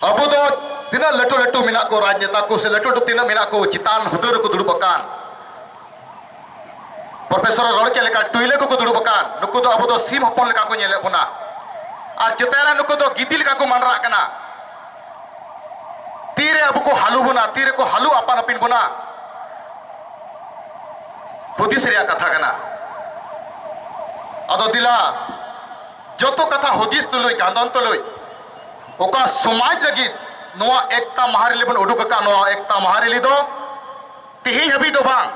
ᱟᱵᱚ ᱫᱚ ᱛᱤᱱᱟᱹᱜ ᱞᱟᱹᱴᱩ ᱞᱟᱹᱴᱩ ᱢᱮᱱᱟᱜ ᱠᱚ ᱨᱟᱡᱽᱱᱮᱛᱟ ᱠᱚ ᱥᱮ ᱞᱟᱹᱴᱩ ᱞᱟᱹᱴᱩ ᱛᱤᱱᱟᱹᱜ ᱢᱮᱱᱟᱜ ᱠᱚ ᱪᱮᱛᱟᱱ ᱦᱩᱫᱟᱹ ᱨᱮᱠᱚ ᱫᱩᱲᱩᱵ ᱟᱠᱟᱱ ᱯᱨᱚᱯᱷᱮᱥᱚᱨ ᱨᱚᱲ ᱪᱮᱫ ᱞᱮᱠᱟ ᱴᱩᱭᱞᱟᱹ ᱠᱚᱠᱚ ᱫᱩᱲᱩᱵ ᱟᱠᱟᱱ ᱱᱩᱠᱩ ᱫᱚ ᱟᱵᱚ ᱫᱚ ᱥᱤᱢ ᱦᱚᱯᱚᱱ ᱞᱮᱠᱟ ᱠᱚ ᱧᱮᱞᱮᱫ ᱵᱚᱱᱟ ᱟᱨ ᱪᱮᱛᱟᱱ ᱨᱮ ᱱᱩᱠᱩ ᱫᱚ ᱜᱤᱫᱤ ᱞᱮᱠᱟ ᱠᱚ ᱢᱟᱱᱨᱟᱜ ᱠᱟᱱᱟ ᱛᱤᱨᱮ ᱟᱵᱚ ᱠᱚ ᱦᱟᱞᱩ ᱵᱚᱱᱟ ᱛᱤᱨᱮ ᱠᱚ ᱦᱟᱞᱩ ᱟᱯᱟᱱ ᱟᱹᱯᱤᱱ ᱵᱚᱱᱟ ᱦᱩᱫᱤᱥ ᱨᱮᱭᱟᱜ ᱠᱟᱛᱷᱟ ᱠᱟᱱᱟ ᱟᱫᱚ ᱫᱮᱞᱟ ᱡᱚᱛᱚ ᱠᱟᱛᱷᱟ ᱦᱩᱫᱤᱥ ᱛᱩᱞᱩᱡ ᱠᱟᱸᱫᱚᱱ ᱛᱩᱞᱩᱡ ᱚᱠᱟ ᱥᱚᱢᱟᱡᱽ ᱞᱟᱹᱜᱤᱫ ᱱᱚᱣᱟ ᱮᱠᱛᱟ ᱢᱟᱦᱟ ᱨᱮᱞᱤ ᱵᱚᱱ ᱩᱰᱩᱠ ᱟᱠᱟᱫ ᱱᱚᱣᱟ ᱮᱠᱛᱟ ᱢᱟᱦᱟ ᱨᱮᱞᱤ ᱫᱚ ᱛᱮᱦᱮᱧ ᱦᱟᱹᱵᱤᱡ ᱫᱚ ᱵᱟᱝ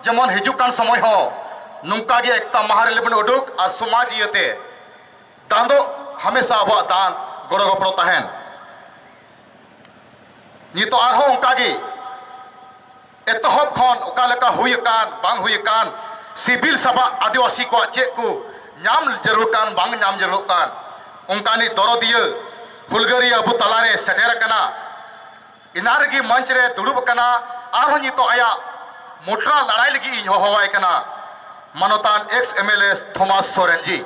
ᱡᱮᱢᱚᱱ ᱦᱤᱡᱩᱜ ᱠᱟᱱ ᱥᱚᱢᱚᱭ ᱦᱚᱸ ᱱᱚᱝᱠᱟ ᱜᱮ ᱮᱠᱛᱟ ᱢᱟᱦᱟ ᱨᱮᱞᱤ ᱵᱚᱱ ᱩᱰᱩᱠ ᱟᱨ ᱥᱚᱢᱟᱡᱽ ᱤᱭᱟᱹᱛᱮ ᱫᱟᱱ ᱫᱚ ᱦᱟᱢᱮᱥᱟ ᱟᱵᱚᱣᱟᱜ ᱫᱟᱱ ᱜᱚᱲᱚ ᱜᱚᱯᱚᱲᱚ ᱛᱟᱦᱮᱱ ᱱᱤᱛᱚᱜ ᱟᱨᱦᱚᱸ ᱚᱱᱠᱟ ᱜᱮ ᱮᱛᱚᱦᱚᱵ ᱠᱷᱚᱱ ᱚᱠᱟ ᱞᱮᱠᱟ ᱦᱩᱭ ᱟᱠᱟᱱ ᱵᱟᱝ ᱦᱩᱭ ᱟᱠᱟᱱ ᱥᱤᱵᱤᱞ ᱥᱟᱵᱟᱜ ᱟᱹᱫᱤᱵᱟᱹᱥᱤ ᱠᱚᱣᱟᱜ ᱪᱮᱫ ᱠᱚ ᱧᱟᱢ ᱡᱟᱹᱨᱩᱲ ᱠᱟᱱ ᱵᱟᱝ ᱧᱟᱢ ᱡᱟᱹᱨᱩᱲ ᱠᱟᱱ ᱚᱱᱠᱟᱱᱤᱡ ᱫᱚᱨᱚᱫᱤᱭᱟᱹ ᱦᱩᱞᱜᱟᱹᱨᱤᱭᱟᱹ ᱟᱵᱚ ᱛᱟᱞᱟᱨᱮ ᱥᱮᱴᱮᱨ ᱟᱠᱟᱱᱟ ᱮᱱᱟ ᱨᱮᱜᱮ ᱢᱚᱧᱪ ᱨᱮ ᱫᱩᱲᱩᱵ ᱟᱠᱟᱱᱟ ᱟᱨᱦᱚᱸ ᱱᱤᱛᱚᱜ ᱟᱭᱟᱜ ᱢᱩᱴᱨᱟ ᱞᱟᱲᱟᱭ ᱞᱟᱹᱜᱤᱫ ᱤᱧ ᱦᱚᱦᱚᱣᱟᱭ ᱠᱟᱱᱟ ᱢᱟᱱᱚᱛᱟᱱ X M L A Thomas Soren ji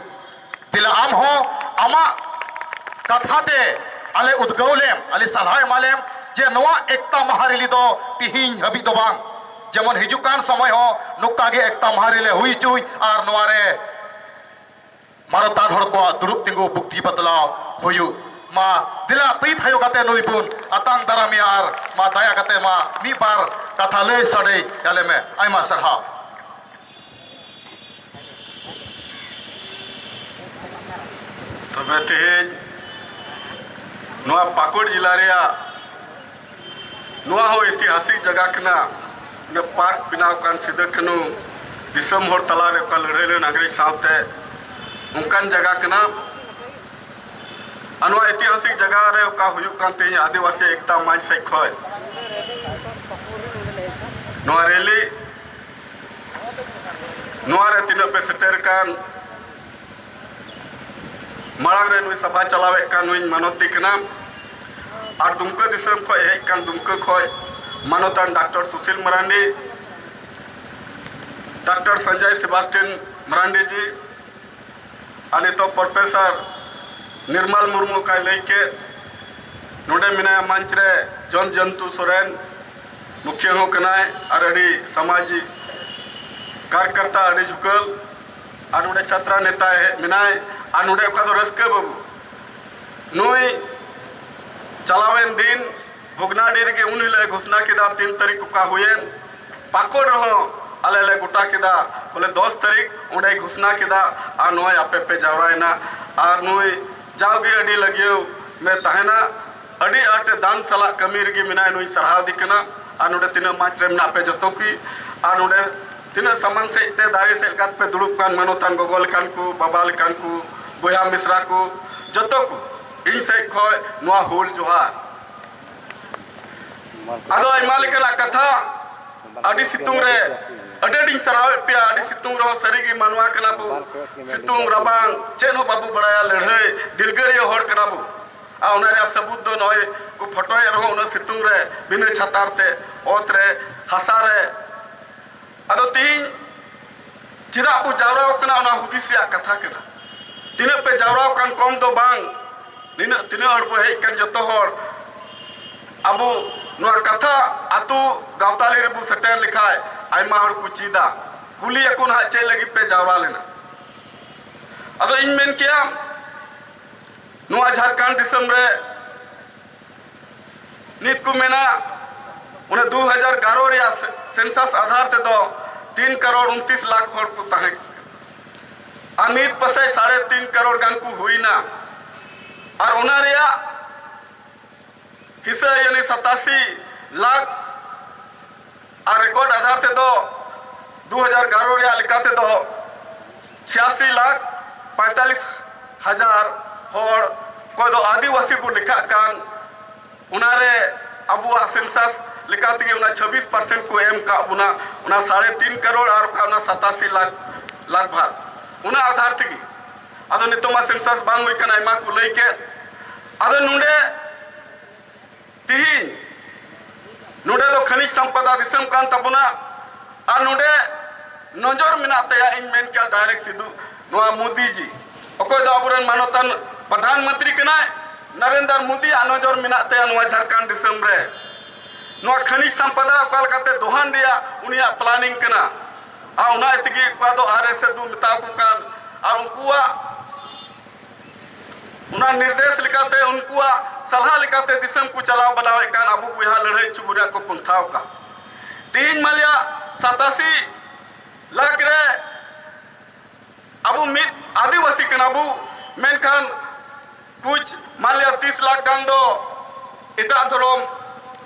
ᱛᱤᱞᱟ ᱟᱢ ᱦᱚᱸ ᱟᱢᱟᱜ ᱠᱟᱛᱷᱟ ᱛᱮ ᱟᱞᱮ ᱩᱫᱽᱜᱟᱹᱣ ᱞᱮᱢ ᱟᱞᱮ ᱥᱟᱞᱦᱟ ᱮᱢᱟ ᱞᱮᱢ ᱡᱮ ᱱᱚᱣᱟ ᱮᱠᱛᱟ ᱢᱟᱦᱟ ᱨᱮᱞᱤ ᱫᱚ ᱛᱤᱦᱤᱧ ᱦᱟᱹᱵᱤᱡ ᱫᱚ ᱵᱟᱝ ᱡᱮᱢᱚᱱ ᱦᱤᱡᱩᱜ ᱠᱟᱱ ᱥᱚᱢᱚᱭ ᱦᱚᱸ ᱱᱚᱝᱠᱟ ᱜᱮ ᱮᱠᱛᱟ ᱢᱟᱦᱟ ᱨᱮᱞᱮ ᱦᱩᱭ ᱦᱚᱪᱚᱭ ᱟᱨ ᱱᱚᱣᱟ ᱨᱮ ᱢᱟᱱᱚᱛᱟᱱ ᱦᱚᱲ ᱠᱚᱣᱟᱜ ᱫᱩᱲᱩᱵ ᱛᱤᱸᱜᱩ ᱵᱩᱠᱛᱤ ᱵᱟᱛᱞᱟᱣ ᱦᱩᱭᱩᱜ ᱢᱟ ᱫᱮᱞᱟ ᱛᱤ ᱛᱷᱟᱭᱚ ᱠᱟᱛᱮ ᱱᱩᱭ ᱵᱚᱱ ᱟᱛᱟᱝ ᱫᱟᱨᱟᱢᱮᱭᱟ ᱟᱨ ᱢᱟ ᱫᱟᱭᱟ ᱠᱟᱛᱮ ᱢᱟ ᱢᱤᱫ ᱵᱟᱨ ᱠᱟᱛᱷᱟ ᱞᱟᱹᱭ ᱥᱟᱰᱮ ᱟᱞᱮ ᱢᱮ ᱟᱭᱢᱟ ᱥᱟᱨᱦᱟᱣ ᱛᱚᱵᱮ ᱛᱮᱦᱮᱧ ᱱᱚᱣᱟ ᱯᱟᱠᱩᱲ ᱡᱮᱞᱟ ᱨᱮᱭᱟᱜ ᱱᱚᱣᱟ ᱦᱚᱸ ᱤᱛᱤᱦᱟᱥᱤᱠ ᱡᱟᱭᱜᱟ ᱠᱟᱱᱟ ᱱᱚᱣᱟ ᱯᱟᱨᱠ ᱵᱮᱱᱟᱣ ᱠᱟᱱ ᱥᱤᱫᱩ ᱠᱟᱹᱱᱩ ᱫᱤᱥᱚᱢ ᱦᱚᱲ ᱛᱟᱞᱟᱨᱮ ᱚᱠᱟ ᱞᱟᱹᱲᱦᱟᱹᱭ ᱞᱮᱱ ᱤᱝᱨᱮᱡᱽ ᱥᱟᱶᱛᱮ ᱚᱱᱠᱟᱱ ᱡᱟᱭᱜᱟ ᱠᱟᱱᱟ ᱟᱨ ᱱᱚᱣᱟ ᱤᱛᱤᱦᱟᱥᱤᱠ ᱡᱟᱭᱜᱟ ᱨᱮ ᱚᱠᱟ ᱦᱩᱭᱩᱜ ᱠᱟᱱ ᱛᱮᱦᱮᱧ ᱟᱹᱫᱤᱵᱟᱹᱥᱤ ᱮᱠᱛᱟ ᱢᱚᱧᱪ ᱥᱮᱫ ᱠᱷᱚᱱ ᱱᱚᱣᱟ ᱨᱮᱞᱤ ᱱᱚᱣᱟ ᱨᱮ ᱛᱤᱱᱟᱹᱜ ᱯᱮ ᱥᱮᱴᱮᱨ ᱠᱟᱱ ᱢᱟᱲᱟᱝ ᱨᱮ ᱱᱩᱭ ᱥᱟᱯᱷᱟ ᱪᱟᱞᱟᱣᱮᱫ ᱠᱟᱱ ᱱᱩᱭ ᱢᱟᱱᱚᱛᱤ ᱠᱟᱱᱟ ᱟᱨ ᱫᱩᱢᱠᱟᱹ ᱫᱤᱥᱚᱢ ᱠᱷᱚᱱ ᱦᱮᱡ ᱠᱟᱱ ᱫᱩᱢᱠᱟᱹ ᱠᱷᱚᱱ ᱢᱟᱱᱚᱛᱟᱱ doctor Sushil Marandi doctor Sanjay Sebastian Marandi ji ᱟᱨ ᱱᱤᱛᱚᱜ ᱯᱨᱚᱯᱷᱮᱥᱚᱨ ᱱᱤᱨᱢᱟᱞ ᱢᱩᱨᱢᱩ ᱚᱠᱟᱭ ᱞᱟᱹᱭ ᱠᱮᱫ ᱱᱚᱰᱮ ᱢᱮᱱᱟᱭᱟ ᱢᱚᱧᱪ ᱨᱮ ᱡᱚᱱ ᱡᱚᱱᱛᱩ ᱥᱚᱨᱮᱱ ᱢᱩᱠᱷᱤᱭᱟᱹ ᱦᱚᱸ ᱠᱟᱱᱟᱭ ᱟᱨ ᱟᱹᱰᱤ ᱥᱟᱢᱟᱡᱤᱠ ᱠᱟᱨᱠᱟᱨᱛᱟ ᱟᱹᱰᱤ ᱡᱷᱩᱠᱟᱹᱞ ᱟᱨ ᱱᱚᱰᱮ ᱪᱷᱟᱛᱨᱟ ᱱᱮᱛᱟ ᱢᱮᱱᱟᱭ ᱟᱨ ᱱᱚᱰᱮ ᱚᱠᱟ ᱫᱚ ᱨᱟᱹᱥᱠᱟᱹ ᱵᱟᱹᱵᱩ ᱱᱩᱭ ᱪᱟᱞᱟᱣᱮᱱ ᱫᱤᱱ ᱵᱷᱚᱜᱽᱱᱟᱰᱤ ᱨᱮᱜᱮ ᱩᱱ ᱦᱤᱞᱳᱜ ᱮ ᱜᱷᱳᱥᱱᱟ ᱠᱮᱫᱟ ᱛᱤᱱ ᱛᱟᱹᱨᱤᱠᱷ ᱚᱠᱟ ᱦᱩᱭᱮᱱ ᱯᱟᱠᱚᱲ ᱨᱮᱦᱚᱸ ᱟᱞᱮ ᱞᱮ ᱜᱚᱴᱟ ᱠᱮᱫᱟ ᱵᱚᱞᱮ ᱫᱚᱥ ᱛᱟᱹᱨᱤᱠᱷ ᱚᱸᱰᱮ ᱜᱷᱳᱥᱱᱟ ᱠᱮᱫᱟ ᱟᱨ ᱱᱚᱜᱼᱚᱭ ᱟᱯᱮ ᱯᱮ ᱡᱟᱣᱨᱟᱭᱮᱱᱟ ᱟᱨ ᱱᱩᱭ ᱡᱟᱣᱜᱮ ᱟᱹᱰᱤ ᱞᱟᱹᱜᱤᱭᱟᱹᱣ ᱢᱮ ᱛᱟᱦᱮᱱᱟ ᱟᱹᱰᱤ ᱟᱸᱴ ᱫᱟᱱ ᱥᱟᱞᱟᱜ ᱠᱟᱹᱢᱤ ᱨᱮᱜᱮ ᱢᱮᱱᱟᱭ ᱱᱩᱭ ᱥᱟᱨᱦᱟᱣᱫᱤ ᱠᱟᱱᱟ ᱟᱨ ᱱᱚᱰᱮ ᱛᱤᱱᱟᱹᱜ ᱢᱟᱪ ᱨᱮ ᱢᱮᱱᱟᱜ ᱯᱮ ᱡᱚᱛᱚ ᱠᱚ ᱟᱨ ᱱᱚᱰᱮ ᱛᱤᱱᱟᱹᱜ ᱥᱟᱢᱟᱝ ᱥᱮᱫ ᱛᱮ ᱫᱟᱨᱮ ᱥᱮᱫ ᱞᱮᱠᱟ ᱛᱮᱯᱮ ᱫᱩᱲᱩᱵ ᱠᱟᱱ ᱢᱟᱱᱚᱛᱟᱱ ᱜᱚᱜᱚ ᱞᱮᱠᱟᱱ ᱠᱚ ᱵᱟᱵᱟ ᱞᱮᱠᱟᱱ ᱠᱚ ᱵᱚᱭᱦᱟ ᱢᱤᱥᱨᱟ ᱠᱚ ᱡᱚᱛᱚ ᱠᱚ ᱤᱧ ᱥᱮᱫ ᱠᱷᱚᱡ ᱱᱚᱣᱟ ᱦᱩᱞ ᱡᱚᱦᱟᱨ ᱟᱫᱚ ᱟᱭᱢᱟ ᱞᱮᱠᱟᱱᱟᱜ ᱠᱟᱛᱷᱟ ᱟᱹᱰᱤ ᱥᱤᱛᱩᱝ ᱨᱮ ᱟᱹᱰᱤ ᱟᱹᱰᱤᱧ ᱥᱟᱨᱦᱟᱣᱮᱫ ᱯᱮᱭᱟ ᱟᱹᱰᱤ ᱥᱤᱛᱩᱝ ᱨᱮᱦᱚᱸ ᱥᱟᱹᱨᱤᱜᱮ ᱢᱟᱱᱣᱟ ᱠᱟᱱᱟ ᱵᱚ ᱥᱤᱛᱩᱝ ᱨᱟᱵᱟᱝ ᱪᱮᱫ ᱦᱚᱸ ᱵᱟᱵᱚ ᱵᱟᱲᱟᱭᱟ ᱞᱟᱹᱲᱦᱟᱹᱭ ᱫᱤᱞᱜᱟᱹᱨᱤᱭᱟᱹ ᱦᱚᱲ ᱠᱟᱱᱟ ᱵᱚ ᱟᱨ ᱚᱱᱟ ᱨᱮᱭᱟᱜ ᱥᱟᱹᱵᱩᱛ ᱫᱚ ᱱᱚᱜᱼᱚᱭ ᱠᱚ ᱯᱷᱚᱴᱚᱭᱮᱫ ᱨᱮᱦᱚᱸ ᱩᱱᱟᱹᱜ ᱥᱤᱛᱩᱝ ᱨᱮ ᱵᱤᱱᱟᱹ ᱪᱷᱟᱛᱟᱨ ᱛᱮ ᱚᱛ ᱨᱮ ᱦᱟᱥᱟ ᱨᱮ ᱟᱫᱚ ᱛᱤᱦᱤᱧ ᱪᱮᱫᱟᱜ ᱵᱚ ᱡᱟᱣᱨᱟᱣ ᱠᱟᱱᱟ ᱚᱱᱟ ᱦᱩᱫᱤᱥ ᱨᱮᱭᱟᱜ ᱠᱟᱛᱷᱟ ᱠᱟᱱᱟ ᱛᱤᱱᱟᱹᱜ ᱯᱮ ᱡᱟᱣᱨᱟᱣ ᱠᱟᱱ ᱠᱚᱢ ᱫᱚ ᱵᱟᱝ ᱱᱤᱱᱟᱹᱜ ᱛᱤᱱᱟᱹᱜ ᱦᱚᱲ ᱵᱚ ᱦᱮᱡ ᱠᱟᱱ ᱡᱚᱛᱚ ᱦᱚᱲ ᱟᱵᱚ ᱱᱚᱣᱟ ᱠᱟᱛᱷᱟ ᱟᱛᱳ ᱜᱟᱶᱛᱟᱞᱤ ᱨᱮᱵᱚ ᱥᱮᱴᱮᱨ ᱞᱮᱠᱷᱟᱡ ᱟᱭᱢᱟ ᱦᱚᱲ ᱠᱚ ᱪᱮᱫᱟ ᱠᱩᱞᱤ ᱟᱠᱚ ᱱᱟᱦᱟᱜ ᱪᱮᱫ ᱞᱟᱹᱜᱤᱫ ᱯᱮ ᱡᱟᱣᱨᱟ ᱞᱮᱱᱟ ᱟᱫᱚ ᱤᱧ ᱢᱮᱱ ᱠᱮᱭᱟ ᱱᱚᱣᱟ ᱡᱷᱟᱨᱠᱷᱚᱸᱰ ᱫᱤᱥᱚᱢ ᱨᱮ ᱱᱤᱛ ᱠᱚ ᱢᱮᱱᱟ ᱚᱱᱟ ᱫᱩ ᱦᱟᱡᱟᱨ ᱜᱟᱨᱚ ᱨᱮᱭᱟᱜ ᱥᱮᱱᱥᱟᱥ ᱟᱫᱷᱟᱨ ᱛᱮᱫᱚ ᱛᱤᱱ ᱠᱟᱨᱚᱲ ᱩᱱᱛᱤᱥ ᱞᱟᱠᱷ ᱦᱚᱲ ᱠᱚ ᱛᱟᱦᱮᱸ ᱟᱨ ᱱᱤᱛ ᱯᱟᱥᱮᱡ ᱥᱟᱲᱮ ᱛᱤᱱ ᱠᱟᱨᱚᱲ ᱜᱟᱱ ᱠᱚ ᱦᱩᱭᱱᱟ ᱟᱨ ᱚᱱᱟ ᱨᱮᱭᱟᱜ ᱦᱤᱥᱟᱹ ᱭᱟᱹᱞᱤ ᱥᱟᱛᱟᱥᱤ ᱞᱟᱠᱷ ᱟᱨ ᱨᱮᱠᱚᱨᱰ ᱟᱫᱷᱟᱨ ᱛᱮᱫᱚ ᱫᱩ ᱦᱟᱡᱟᱨ ᱜᱟᱨᱚ ᱨᱮᱭᱟᱜ ᱞᱮᱠᱟ ᱛᱮᱫᱚ ᱪᱷᱤᱭᱟᱥᱤ ᱞᱟᱠᱷ ᱯᱟᱭᱛᱟᱞᱤᱥ ᱦᱟᱡᱟᱨ ᱦᱚᱲ ᱚᱠᱚᱭ ᱫᱚ ᱟᱹᱫᱤᱵᱟᱹᱥᱤ ᱵᱚ ᱞᱮᱠᱷᱟᱜ ᱠᱟᱱ ᱚᱱᱟᱨᱮ ᱟᱵᱚᱣᱟᱜ ᱥᱮᱱᱥᱟᱥ ᱞᱮᱠᱟ ᱛᱮᱜᱮ ᱚᱱᱟ ᱪᱷᱟᱵᱵᱤᱥ ᱯᱟᱨᱥᱮᱱᱴ ᱠᱚ ᱮᱢ ᱠᱟᱜ ᱵᱚᱱᱟ ᱚᱱᱟ ᱥᱟᱲᱮ ᱛᱤᱱ ᱠᱟᱨᱳᱲ ᱟᱨ ᱚᱠᱟ ᱚᱱᱟ ᱥᱟᱛᱟᱥᱤ ᱞᱟᱠᱷ ᱞᱟᱜᱽ ᱵᱷᱟᱜᱽ ᱚᱱᱟ ᱟᱫᱷᱟᱨ ᱛᱮᱜᱮ ᱟᱫᱚ ᱱᱤᱛᱚᱜ ᱢᱟ ᱥᱮᱱᱥᱟᱥ ᱵᱟᱝ ᱦᱩᱭ ᱠᱟᱱᱟ ᱟᱭᱢᱟ ᱠᱚ ᱞᱟᱹᱭ ᱠᱮᱫ ᱟᱫᱚ ᱱᱚᱰᱮ ᱛᱤᱦᱤᱧ ᱱᱚᱰᱮ ᱫᱚ ᱠᱷᱟᱹᱱᱤᱡ ᱥᱟᱢᱯᱟᱫᱟ ᱫᱤᱥᱚᱢ ᱠᱟᱱ ᱛᱟᱵᱚᱱᱟ ᱟᱨ ᱱᱚᱰᱮ ᱱᱚᱡᱚᱨ ᱢᱮᱱᱟᱜ ᱛᱟᱭᱟ ᱤᱧ ᱢᱮᱱ ᱠᱮᱭᱟ ᱰᱟᱭᱨᱮᱠᱴ ᱥᱤᱫᱩ ᱱᱚᱣᱟ ᱢᱳᱫᱤ ᱡᱤ ᱚᱠᱚᱭ ᱫᱚ ᱟᱵᱚᱨᱮᱱ ᱢᱟᱱᱚᱛᱟᱱ ᱯᱨᱚᱫᱷᱟᱱ ᱢᱚᱱᱛᱨᱤ ᱠᱟᱱᱟᱭ ᱱᱚᱨᱮᱱᱫᱨ ᱢᱳᱫᱤ ᱟᱜ ᱱᱚᱡᱚᱨ ᱢᱮᱱᱟᱜ ᱛᱟᱭᱟ ᱱᱚᱣᱟ ᱡᱷᱟᱲᱠᱷᱚᱸᱰ ᱫᱤᱥᱚᱢ ᱨᱮ ᱱᱚᱣᱟ ᱠᱷᱟᱹᱱᱤᱡ ᱥᱟᱢᱯᱟᱫᱟ ᱚᱠᱟ ᱞᱮᱠᱟᱛᱮ ᱫᱚᱦᱟᱱ ᱨᱮᱭᱟᱜ ᱩᱱᱤᱭᱟᱜ ᱯᱞᱟᱱᱤᱝ ᱠᱟᱱᱟ ᱟᱨ ᱚᱱᱟ ᱛᱮᱜᱮ ᱚᱠᱟ ᱫᱚ ᱟᱨ ᱮᱥ ᱮᱥ ᱫᱚ ᱢᱮᱛᱟ ᱠᱚ ᱠᱟᱱ ᱟᱨ ᱩᱱᱠᱩᱣᱟᱜ ᱚᱱᱟ ᱱᱤᱨᱫᱮᱥ ᱞᱮᱠᱟᱛᱮ ᱩᱱᱠᱩᱣᱟᱜ ᱥᱟᱞᱦᱟ ᱞᱮᱠᱟᱛᱮ ᱫᱤᱥᱚᱢ ᱠᱚ ᱪᱟᱞᱟᱣ ᱵᱟᱱᱟᱣᱮᱫ ᱠᱟᱱ ᱟᱵᱚ ᱵᱚᱭᱦᱟ ᱞᱟᱹᱲᱦᱟᱹᱭ ᱦᱚᱪᱚ ᱨᱮᱭᱟᱜ ᱠᱚ ᱯᱚᱱᱛᱷᱟᱣ ᱠᱟᱱ ᱛᱮᱦᱮᱧ ᱢᱟᱞᱮᱭᱟᱜ ᱥᱟᱛᱟᱥᱤ ᱞᱟᱠᱷ ᱨᱮ ᱟᱵᱚ ᱢᱤᱫ ᱟᱹᱫᱤᱵᱟᱹᱥᱤ ᱠᱟᱱᱟ ᱵᱚ ᱢᱮᱱᱠᱷᱟᱱ ᱠᱩᱪ ᱢᱟᱱᱞᱤᱭᱟ ᱛᱤᱥ ᱞᱟᱠᱷ ᱜᱟᱱ ᱫᱚ ᱮᱴᱟᱜ ᱫᱷᱚᱨᱚᱢ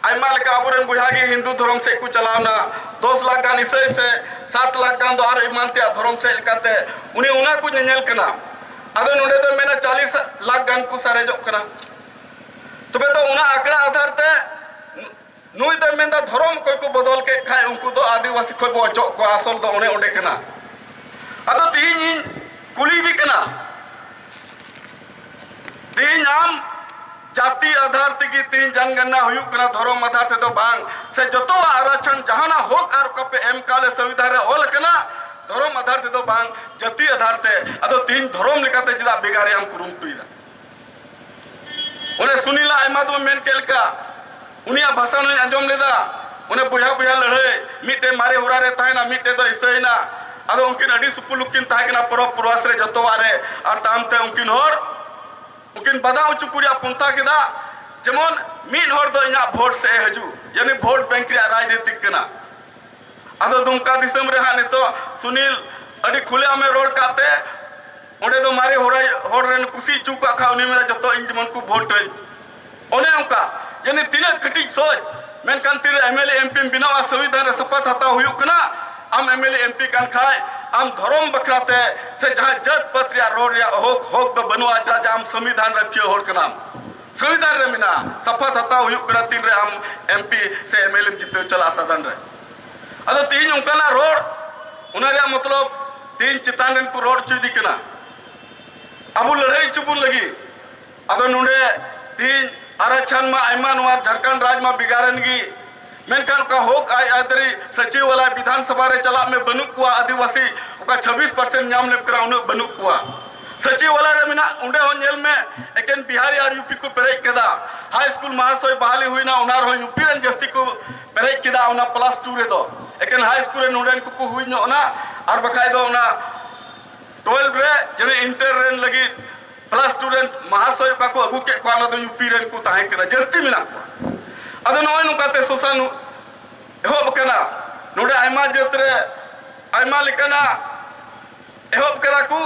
ᱟᱭᱢᱟ ᱞᱮᱠᱟ ᱟᱵᱚᱨᱮᱱ ᱵᱚᱭᱦᱟ ᱜᱮ ᱦᱤᱱᱫᱩ ᱫᱷᱚᱨᱚᱢ ᱥᱮᱫ ᱠᱚ ᱪᱟᱞᱟᱣᱱᱟ ᱫᱚᱥ ᱞᱟᱠᱷ ᱜᱟᱱ ᱤᱥᱟᱹᱭ ᱥᱮ ᱥᱟᱛ ᱞᱟᱠᱷ ᱜᱟᱱ ᱫᱚ ᱟᱨ ᱮᱢᱟᱱ ᱛᱮᱭᱟᱜ ᱫᱷᱚᱨᱚᱢ ᱥᱮᱫ ᱞᱮᱠᱟᱛᱮ ᱩᱱᱤ ᱚᱱᱟ ᱠᱚ ᱧᱮᱧᱮᱞ ᱠᱟᱱᱟ ᱟᱫᱚ ᱱᱚᱰᱮ ᱫᱚ ᱢᱮᱱᱟ ᱪᱟᱞᱤᱥ ᱞᱟᱠᱷ ᱜᱟᱱ ᱠᱚ ᱥᱟᱨᱮᱡᱚᱜ ᱠᱟᱱᱟ ᱛᱚᱵᱮ ᱫᱚ ᱚᱱᱟ ᱟᱸᱠᱲᱟ ᱟᱫᱷᱟᱨ ᱛᱮ ᱱᱩᱭ ᱫᱚᱭ ᱢᱮᱱᱫᱟ ᱫᱷᱚᱨᱚᱢ ᱚᱠᱚᱭ ᱠᱚ ᱵᱚᱫᱚᱞ ᱠᱮᱫ ᱠᱷᱟᱡ ᱩᱱᱠᱩ ᱫᱚ ᱟᱹᱫᱤᱵᱟᱹᱥᱤ ᱠᱷᱚᱡ ᱵᱚ ᱚᱪᱚᱜ ᱠᱚᱣᱟ ᱟᱥᱚᱞ ᱫᱚ ᱚᱱᱮ ᱚᱸᱰᱮ ᱠᱟᱱᱟ ᱟᱫᱚ ᱛᱤᱦᱤᱧ ᱤᱧ ᱠᱩᱞᱤᱭᱮᱫᱮ ᱠᱟᱱᱟ ᱛᱤᱦᱤᱧ ᱟᱢ ᱡᱟᱹᱛᱤ ᱟᱫᱷᱟᱨ ᱛᱮᱜᱮ ᱛᱤᱦᱤᱧ ᱡᱟᱱᱜᱟᱱᱟ ᱦᱩᱭᱩᱜ ᱠᱟᱱᱟ ᱫᱷᱚᱨᱚᱢ ᱟᱫᱷᱟᱨ ᱛᱮᱫᱚ ᱵᱟᱝ ᱥᱮ ᱡᱚᱛᱚᱣᱟᱜ ᱟᱨᱟᱪᱷᱚᱱ ᱡᱟᱦᱟᱱᱟᱜ ᱦᱚᱠ ᱟᱨ ᱚᱠᱟ ᱯᱮ ᱮᱢ ᱠᱟᱣᱞᱮ ᱥᱚᱝᱵᱤᱫᱷᱟᱱ ᱨᱮ ᱚᱞ ᱠᱟᱱᱟ ᱫᱷᱚᱨᱚᱢ ᱟᱫᱷᱟᱨ ᱛᱮᱫᱚ ᱵᱟᱝ ᱡᱟᱹᱛᱤ ᱟᱫᱷᱟᱨ ᱛᱮ ᱟᱫᱚ ᱛᱤᱦᱤᱧ ᱫᱷᱚᱨᱚᱢ ᱞᱮᱠᱟᱛᱮ ᱪᱮᱫᱟᱜ ᱵᱷᱮᱜᱟᱨ ᱨᱮᱭᱟᱜ ᱮᱢ ᱠᱩᱨᱩᱢᱩᱴᱩᱭᱮᱫᱟ ᱚᱱᱮ ᱥᱩᱱᱤᱞᱟ ᱟᱭᱢᱟ ᱫᱚ ᱢᱮᱱ ᱠᱮᱫ ᱞᱮᱠᱟ ᱩᱱᱤᱭᱟᱜ ᱵᱷᱟᱥᱟ ᱱᱚᱧ ᱟᱸᱡᱚᱢ ᱞᱮᱫᱟ ᱚᱱᱮ ᱵᱚᱭᱦᱟ ᱵᱚᱭᱦᱟ ᱞᱟᱹᱲᱦᱟᱹᱭ ᱢᱤᱫᱴᱮᱱ ᱢᱟᱨᱮ ᱦᱚᱨᱟ ᱨᱮ ᱛᱟᱦᱮᱱᱟ ᱢᱤᱫᱴᱮᱱ ᱫᱚ ᱤᱥᱟᱹᱭᱮᱱᱟ ᱟᱫᱚ ᱩᱱᱠᱤᱱ ᱟᱹᱰᱤ ᱥᱩᱯᱩᱞᱩᱠ ᱠᱤᱱ ᱛᱟᱦᱮᱸ ᱠᱟᱱᱟ ᱯᱚᱨᱚᱵᱽ ᱯᱚᱨᱚᱣᱟᱥ ᱨᱮ ᱡᱚᱛᱚᱣᱟᱜ ᱨᱮ ᱟᱨ ᱛᱟᱭᱚᱢ ᱛᱮ ᱩᱱᱠᱤᱱ ᱦᱚᱲ ᱩᱱᱠᱤᱱ ᱵᱟᱫᱷᱟ ᱦᱚᱪᱚ ᱠᱚ ᱨᱮᱭᱟᱜ ᱯᱚᱱᱛᱷᱟ ᱠᱮᱫᱟ ᱡᱮᱢᱚᱱ ᱢᱤᱫ ᱦᱚᱲ ᱫᱚ ᱤᱧᱟᱹᱜ ᱵᱷᱳᱴ ᱥᱮᱫ ᱮ ᱦᱤᱡᱩᱜ ᱡᱟᱹᱱᱤ ᱵᱷᱳᱴ ᱵᱮᱝᱠ ᱨᱮᱭᱟᱜ ᱨᱟᱡᱽᱱᱤᱛᱤᱠ ᱠᱟᱱᱟ ᱟᱫᱚ ᱫᱩᱢᱠᱟ ᱫᱤᱥᱚᱢ ᱨᱮ ᱦᱟᱸᱜ ᱱᱤᱛᱚᱜ ᱥᱩᱱᱤᱞ ᱟᱹᱰᱤ ᱠᱷᱩᱞᱮ ᱟᱢᱮ ᱨᱚᱲ ᱠᱟᱜ ᱛᱮ ᱚᱸᱰᱮ ᱫᱚ ᱢᱟᱨᱮ ᱦᱚᱲ ᱦᱚᱲ ᱨᱮᱱ ᱠᱩᱥᱤ ᱦᱚᱪᱚ ᱠᱟᱜ ᱠᱷᱟᱱ ᱩᱱᱤ ᱢᱮᱱᱟ ᱡᱚᱛᱚ ᱤᱧ ᱡᱮᱢᱚᱱ ᱠᱚ ᱵᱷᱳᱴ ᱟᱹᱧ ᱚᱱᱮ ᱚᱱᱠᱟ ᱡᱟᱹᱱᱤ ᱛᱤᱱᱟᱹᱜ ᱠᱟᱹᱴᱤᱡ ᱥᱚᱡᱽ ᱢᱮᱱᱠᱷᱟᱱ ᱛᱤᱨᱮ ᱮᱢ ᱮᱞ ᱮ ᱮᱢ ᱯᱤᱢ ᱵᱮᱱᱟᱣᱟ ᱥᱚᱝᱵᱤᱫᱷᱟᱱ ᱨᱮ ᱥᱚᱯᱚᱛ ᱦᱟᱛᱟᱣ ᱦᱩᱭᱩᱜ ᱠᱟᱱᱟ ᱟᱢ M L A M P ᱠᱟᱱ ᱠᱷᱟᱡ ᱟᱢ ᱫᱷᱚᱨᱚᱢ ᱵᱟᱠᱷᱨᱟ ᱛᱮ ᱥᱮ ᱡᱟᱦᱟᱸ ᱡᱟᱹᱛ ᱯᱟᱹᱛ ᱨᱮᱭᱟᱜ ᱨᱚᱲ ᱨᱮᱭᱟᱜ ᱦᱚᱠ ᱦᱚᱠ ᱫᱚ ᱵᱟᱹᱱᱩᱜᱼᱟ ᱪᱮᱫᱟᱜ ᱡᱮ ᱟᱢ ᱥᱚᱝᱵᱤᱫᱷᱟᱱ ᱨᱟᱹᱠᱷᱤᱭᱟᱹ ᱦᱚᱲ ᱠᱟᱱᱟᱢ ᱥᱚᱝᱵᱤᱫᱷᱟᱱ ᱨᱮ ᱢᱮᱱᱟᱜᱼᱟ ᱥᱚᱯᱚᱛ ᱦᱟᱛᱟᱣ ᱦᱩᱭᱩᱜ ᱠᱟᱱᱟ ᱛᱤᱱᱨᱮ ᱟᱢ ᱮᱢ ᱯᱤ ᱥᱮ ᱮᱢ ᱮᱞ ᱮᱢ ᱡᱤᱛᱟᱹᱣ ᱪᱟᱞᱟᱜᱼᱟ ᱥᱟᱫᱷᱟᱨᱚᱱ ᱨᱮ ᱟᱫᱚ ᱛᱮᱦᱮᱧ ᱚᱱᱠᱟᱱᱟᱜ ᱨᱚᱲ ᱚᱱᱟ ᱨᱮᱭᱟᱜ ᱢᱚᱛᱞᱚᱵ ᱛᱮᱦᱮᱧ ᱪᱮᱛᱟᱱ ᱨᱮᱱ ᱠᱚ ᱨᱚᱲ ᱦᱚᱪᱚᱭᱮᱫᱮ ᱠᱟᱱᱟ ᱟᱵᱚ ᱞᱟᱹᱲᱦᱟᱹᱭ ᱦᱚᱪᱚ ᱵᱚᱱ ᱞᱟᱹᱜᱤᱫ ᱟᱫᱚ ᱱᱚᱰᱮ ᱛᱮᱦᱮᱧ ᱟᱨᱟᱪᱷᱟᱱ ᱢᱟ ᱟᱭᱢᱟ ᱱᱚᱣᱟ ᱡᱷᱟᱲᱠᱷᱚᱸᱰ ᱨᱟᱡᱽ ᱢᱟ ᱵᱷᱮᱜᱟᱨᱮᱱ ᱜᱮ ᱢᱮᱱᱠᱷᱟᱱ ᱚᱠᱟ ᱦᱚᱠ ᱟᱭ ᱟᱹᱭᱫᱟᱹᱨᱤ ᱥᱟᱹᱪᱤᱣᱟᱞᱟ ᱵᱤᱫᱷᱟᱱ ᱥᱚᱵᱷᱟ ᱨᱮ ᱪᱟᱞᱟᱜ ᱢᱮ ᱵᱟᱹᱱᱩᱜ ᱠᱚᱣᱟ ᱟᱹᱫᱤᱵᱟᱹᱥᱤ ᱚᱠᱟ ᱪᱷᱟᱵᱵᱤᱥ ᱯᱟᱨᱥᱮᱱᱴ ᱧᱟᱢ ᱞᱮᱫ ᱠᱟᱱᱟ ᱩᱱᱟᱹᱜ ᱵᱟᱹᱱᱩᱜ ᱠᱚᱣᱟ ᱥᱟᱹᱪᱤᱣᱟᱞᱟ ᱨᱮ ᱢᱮᱱᱟᱜ ᱚᱸᱰᱮ ᱦᱚᱸ ᱧᱮᱞ ᱢᱮ ᱮᱠᱮᱱ ᱵᱤᱦᱟᱨᱤ ᱟᱨ ᱭᱩᱯᱤ ᱠᱚ ᱯᱮᱨᱮᱡ ᱠᱮᱫᱟ ᱦᱟᱭ ᱥᱠᱩᱞ ᱢᱟᱦᱟᱥᱚᱭ ᱵᱟᱦᱟᱞᱤ ᱦᱩᱭᱱᱟ ᱚᱱᱟ ᱨᱮᱦᱚᱸ ᱭᱩᱯᱤ ᱨᱮᱱ ᱡᱟᱹᱥᱛᱤ ᱠᱚ ᱯᱮᱨᱮᱡ ᱠᱮᱫᱟ ᱚᱱᱟ ᱯᱞᱟᱥ ᱴᱩ ᱨᱮᱫᱚ ᱮᱠᱮᱱ ᱦᱟᱭ ᱥᱠᱩᱞ ᱨᱮ ᱱᱚᱰᱮᱱ ᱠᱚᱠᱚ ᱦᱩᱭ ᱧᱚᱜ ᱮᱱᱟ ᱟᱨ ᱵᱟᱠᱷᱟᱡ ᱫᱚ ᱚᱱᱟ ᱴᱩᱭᱮᱞᱵᱷ ᱨᱮ ᱡᱮᱱᱚ ᱤᱱᱴᱟᱨ ᱨᱮᱱ ᱞᱟᱹᱜᱤᱫ ᱯᱞᱟᱥ ᱴᱩ ᱨᱮᱱ ᱢᱟᱦᱟᱥᱚᱭ ᱚᱠᱟ ᱠᱚ ᱟᱹᱜᱩ ᱠᱮᱫ ᱠᱚᱣᱟ ᱚᱱᱟ ᱫᱚ ᱭᱩᱯᱤ ᱨᱮᱱ ᱠᱚ ᱛᱟᱦᱮᱸ ᱠᱟᱱᱟ ᱡᱟᱹᱥᱛᱤ ᱢᱮᱱᱟᱜ ᱠᱚᱣᱟ ᱟᱫᱚ ᱱᱚᱜᱼᱚᱭ ᱱᱚᱝᱠᱟᱛᱮ ᱥᱳᱥᱟᱱ ᱮᱦᱚᱵ ᱟᱠᱟᱱᱟ ᱱᱚᱰᱮ ᱟᱭᱢᱟ ᱡᱟᱹᱛ ᱨᱮ ᱟᱭᱢᱟ ᱞᱮᱠᱟᱱᱟᱜ ᱮᱦᱚᱵ ᱠᱮᱫᱟ ᱠᱚ